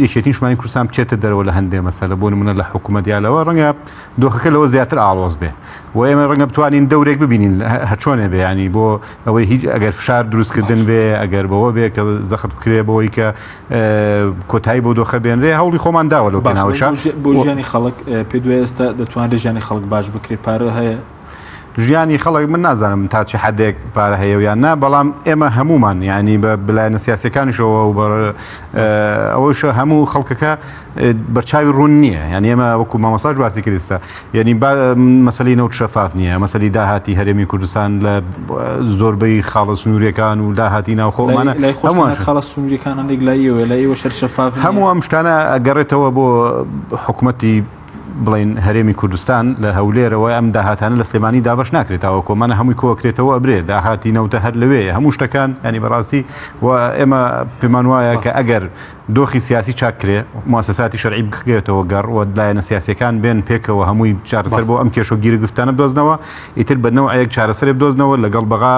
یەکێتی شمانی کوردستان بچێتە دەرەوە لە هەندێ مەسەلە بۆ نمونە لە حکوومەت یا لەوە ڕەنگە دۆخەکە لەوە زیاتر ئاڵۆز بێ و ئێمە ڕەنگە بتوانین دەورێک ببینین هەچۆنێ بێ ینی بۆ ئەوەی هیچ ئەگەر فشار دروستکردن بێ ئەگەر بەوە بێ کە زەخت بکرێ بۆی کە کۆتایی بۆ دۆخە بێنرێ هەوڵی خۆمان داوە لەو بەناوشان بۆ ژیانی خەڵک پێ دوێ ئێستا دەتوانێت ژیانی خەڵک باش بکرێت پارە هەیە ژیانی خەڵک من نازانم تا چ حدێک پارە هەیە یان نا بەڵام ئێمە هەمومان ینی بە بلایەنە سیاسەکانیشەوە و ئەوەش هەموو خەڵکەکە بەرچاوی ڕوون نییە یان ئێمە وەکو مامەساش باسی کردستە یعنی مەسلی نەوت شەفاف نییە مەسلی داهاتی هەرێمی کوردستان لە زۆربەی خاڵە سنوورەکان و داهاتی ناوخۆمانە هەمووان خاڵە سنوورەکان لەگلایەوە لە ئێوە شەر شەفاف هەموو ئەم شتانە گەڕێتەوە بۆ حکوومەتی بڵێن هەرێمی کوردستان لە هەولێرەوە ئەم داهاتانە لە سلێمانی دابەش ناکرێتەوە کۆمانە هەمووی کۆکرێتەوە ئەبرێ داهاتی نەوتە هەر لەوێ هەموو شتەکان ینی بەڕاستی و ئێمە پێمان وایە کە ئەگەر دۆخی سیاسی چاک کرێ موسساتی شەرعی بکرێتەوە گەڕ و لایەنە سیاسەکان بێن پێکەوە هەمووی چارەسەر بۆ ئەم کێش و گیرە گفتانە بدۆزنەوە ئیتر بەنەوە ئەیەک چارەسەرێ بدۆزنەوە لەگەڵ بەغا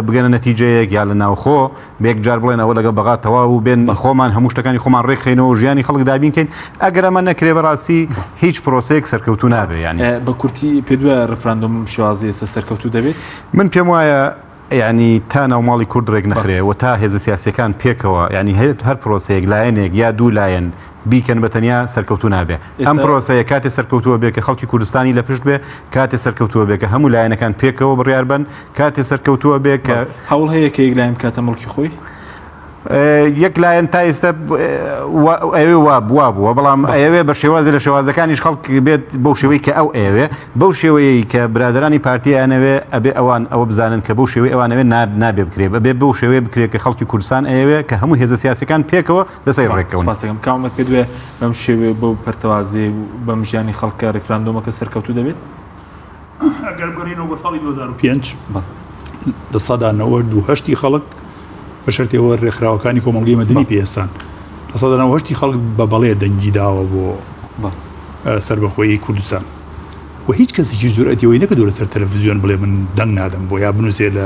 بگەنە نەتیجەیەک یا لە ناوخۆ بە یەک جار بڵێن ئەوە لەگەڵ بەغا تەواو و بێن خۆمان هەموو شتەکانی خۆمان ڕێک خەینەوە و ژیانی خەڵک دابین کەین ئەگەر ئەمە نەکرێ بەڕاستی هیچ پرۆسەیەک سەرکەوتوو نابێ یانی بە کورتی پێ دوە ڕفراندۆم شێوازی ئێستا سەرکەوتوو دەبێت من پێم وایە ینی تا ناوماڵی کورد ڕێک نەخرێ و تا هێزە سیاسەکان پێکەوە ینی هەیە هەر پرۆسەیەک لایەنێک یا دوو لایەن بیکەن بە تەنیا سەرکەوتوو نابێ ئەم پرۆسەیە کاتێ سەرکەوتووە بێ کە خەڵکی کوردستانی لە پشت بێ کاتێ سەرکەوتووە بێ کە هەموو لایەنەکان پێکەوە بڕیار بن کاتێ سەرکەوتووە بێ کە هەوڵ هەیە کە یەک لایم کاتە مڵکی خۆی یەک لایەن تا ئێستا ئەوێ وا بوا بووە بەڵام ئەوێ بە شێوازی لە شێوازەکانیش خەڵک بێت بەو شێوەی کە ئەو ئەوێ بەو شێوەیەی کە برادرانی پارتیانەوێ ئەبێ ئەوان ئەوە بزانن کە بەو شێوەی ئەوانەوێ نابێ بکرێ بەبێ بەو شێوەیە بکرێت کە خەڵکی کورسان ئەوێ کە هەموو هێزە سیاسەکان پێکەوە لەسەی ڕێکەون. سپاست دەکەم. کامەک پێت وێ بەم شێوێ بەو پەرتەوازێ و بەم ژیانی خەڵکە ڕیفراندۆمەکە سەرکەوتوو دەبێت؟ ئەگەر بگەڕێینەوە بۆ ساڵی دوو هەزار و پێنج لە سەدا نەوەد و هەشتی خەڵک بە شەرتەوە ڕێکخراوەکانی کۆمەڵگەی مەدنی پێستان لە سەدا نەوە هەشتی خەڵک بە بەڵێ دەنگی داوە بۆ سربەخۆیی کوردستان و هیچ کەسێکی جورئەتیەوەی نەکردو لەسەر تەلەڤزیۆن بڵێ من دەنگ نادەم بۆ یا بنووسێ لە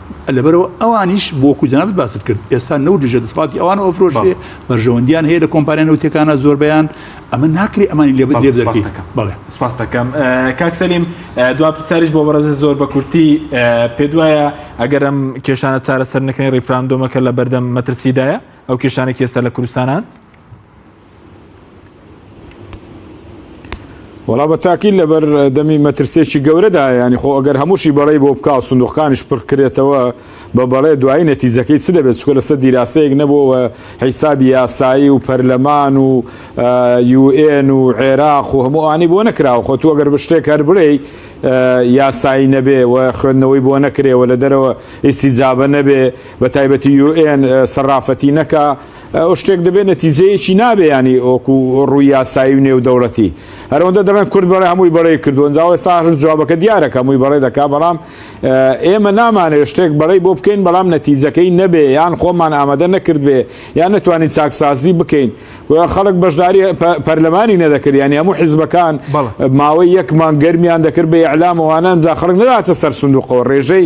لەبەرەوە ئەوانیش بۆ وەکو جنابت باست کرد ئێستا نەوت لەژێ دەسڵاتی ئەوان ئۆفرۆشێ بەرژەوەندیان هەیە لە کۆمپانیا نەوتەکانە زۆربیان ئەمە ناکرێ ئەمانی لێ لێ دەکەی بەڵێ سپاس دەکەم کاک سەلیم دوا پرسیاریش بۆ بەڕێزە زۆر بە کورتی پێ دوایە ئەگەرم کێشانە چارەسەر نەکەین ڕیفراندۆمەکە لە بەردەم مەترسیدایە ئەو کێشانێک ئێستا لە کوردستانان وڵا بە تاکیل لەبەر دەمی مەترسێکی گەورەدا ینی خۆ ئەگەر هەمووشی بەڵی بۆ بکاو سندوقانیش پڕکرێتەوە بە بەڵێ دوایی نەتیجەکەی چ دەبێت چکە لەسەر دیراسەیەک نەبووەوە حیسابی یاسایی و پەرلەمان و یوئێن و عێراق و هەموو ئانی بۆ نەکراوە خۆ تو ئەگەر بشتێک هەر بڵێ یاسایی نەبێ و خوێندنەوەی بۆ نەکرێەوە لە دەرەوە ئیستی جابە نەبێ بە تایبەتی یوئێن سەرافەتی نەکە ئەو شتێک دەبێت نەتیجەیەکی نابێ ینی ئۆکو ڕووی یاسایی و نێو دەوڵەتی هەرەوەندە دەڵێن کورد بەڵێ هەمووی بەڵێ کردووە جا ئێستا هەر جوابەکە دیارەکە هەمووی بەڵێ دەکا بەڵام ئێمە نامانێت شتێک بەڵێ بۆ بکەین بەڵام نەتیجەکەی نەبێ یان خۆمان ئامادە نەکردبێ یان نتوانین چاکسازی بکەین خەڵک بەشداری پەرلەمانی نەدەکرد ینی هەموو حیزبەکان ماوەی یەکمان گەرمیان دەکرد بە ئەعلامەوانە جا خەڵک نەداتە سەر سندوقەوە ڕێژەی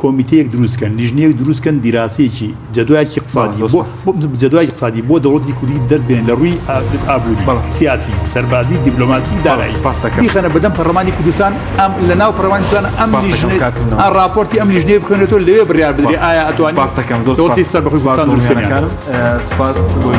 کۆمیتەیەک دروست کەن لیژنەیەک دروست کەن دیراسەیەکی جەدواکی قسادی بۆ جەدواکی قسادی بۆ دەوڵەتی کوردی دەربێن لە ڕووی ئابووری سیاسی سەربازی دیبلۆماسی دارایی خەنە بەدەم پەرلەمانی کوردستان ئەم لە ناو پەروانستان ئەم راپۆرتی ئەم لیژنێ بکەنێتەوە لەوێ بڕیار بدرێ ئایا ئەتوانی باستەکەم زۆرتی سەر بەخزبستان دروستکەکان سپاس بۆی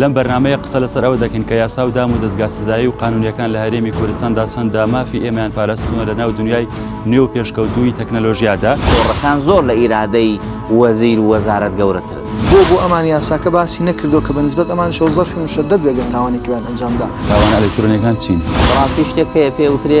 لەم بەرنامەیە قسە لەسەر ئەوە دەکەین کە یاسا و دام و دەستگا سزایی و قانونیەکان لە هەرێمی کوردستاندا چەنددا مافی ئێمەیان پاراستنەوە لە ناو دنیای نوێ و پێشکەوتووی تەکنەلۆژیادا تۆڕەکان زۆر لە ئیرادەی وەزیر و وەزارەت گەورەترن. بۆ بۆ ئەمان یاساکە باسی نەکردو کە بەنسبەت ئەمان شەو زەرفی مشەدەد بێگەر تاوانێکیان ئەنجامدا. تاوانە ئەلکترۆنیەکان چین؟ بەڕاستی شتێک هەیە پێ وترێ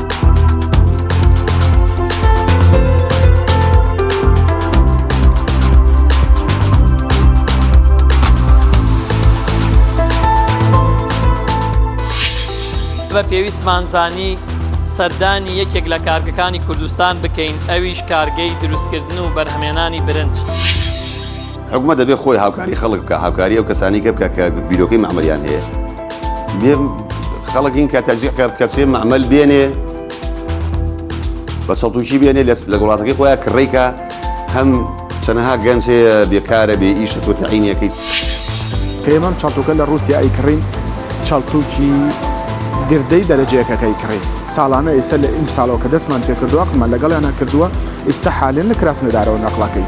بە پێویستمان زانی سەردانی یەکێک لە کارگەکانی کوردستان بکەین ئەویش کارگەی دروستکردن و بەرهەمێنانی برنج. حکومە دەبێت خۆی هاوکاری خەڵک بکە هاوکاری ئەو کەسانی کە بکە کە بیرۆکەی مەعمەریان هەیە بێم خەڵک این کە تەجیق کرد کە چێ مەعمەل بێنێ بە سەڵتوکی بێنێ لە وڵاتەکەی خۆیان کڕێکە هەم چەنەها گەنج هەیە بێکارە بێ ئیش تۆ تعینەکەیت پێمەم چەڵتوکە لە رووسیا ئەی کڕین چەڵتوکی گردەی دەرەجەیەکەکەی کڕی ساڵانە ئێستا لە ئیم ساڵەوە کە دەستمان پێکردووە قمە لەگەڵیان نەکردووە ئێستا حالێن لە کراس نەدارەوە نەقلەکەی.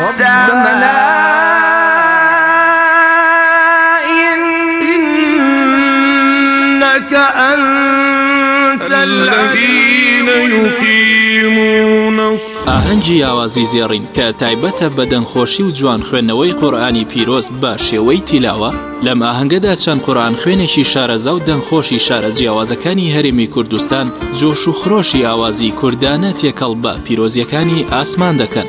ربنا إنك أنت الذين يقيمون ئاهەنگی یاوازی زێڕین کە تایبەتە بە دەنگخۆشی و جوان خوێندنەوەی قورآانی پیرۆز بە شێوەی تیلاوە لەم ئاهەنگەدا چەند قورآان خوێنێکی شارەزا و دەنگخۆشی شارە جیاوازەکانی هەرێمی کوردستان جۆش و خرۆشی ئاوازی کوردانە تێکەڵ بە پیرۆزیەکانی ئاسمان دەکەن.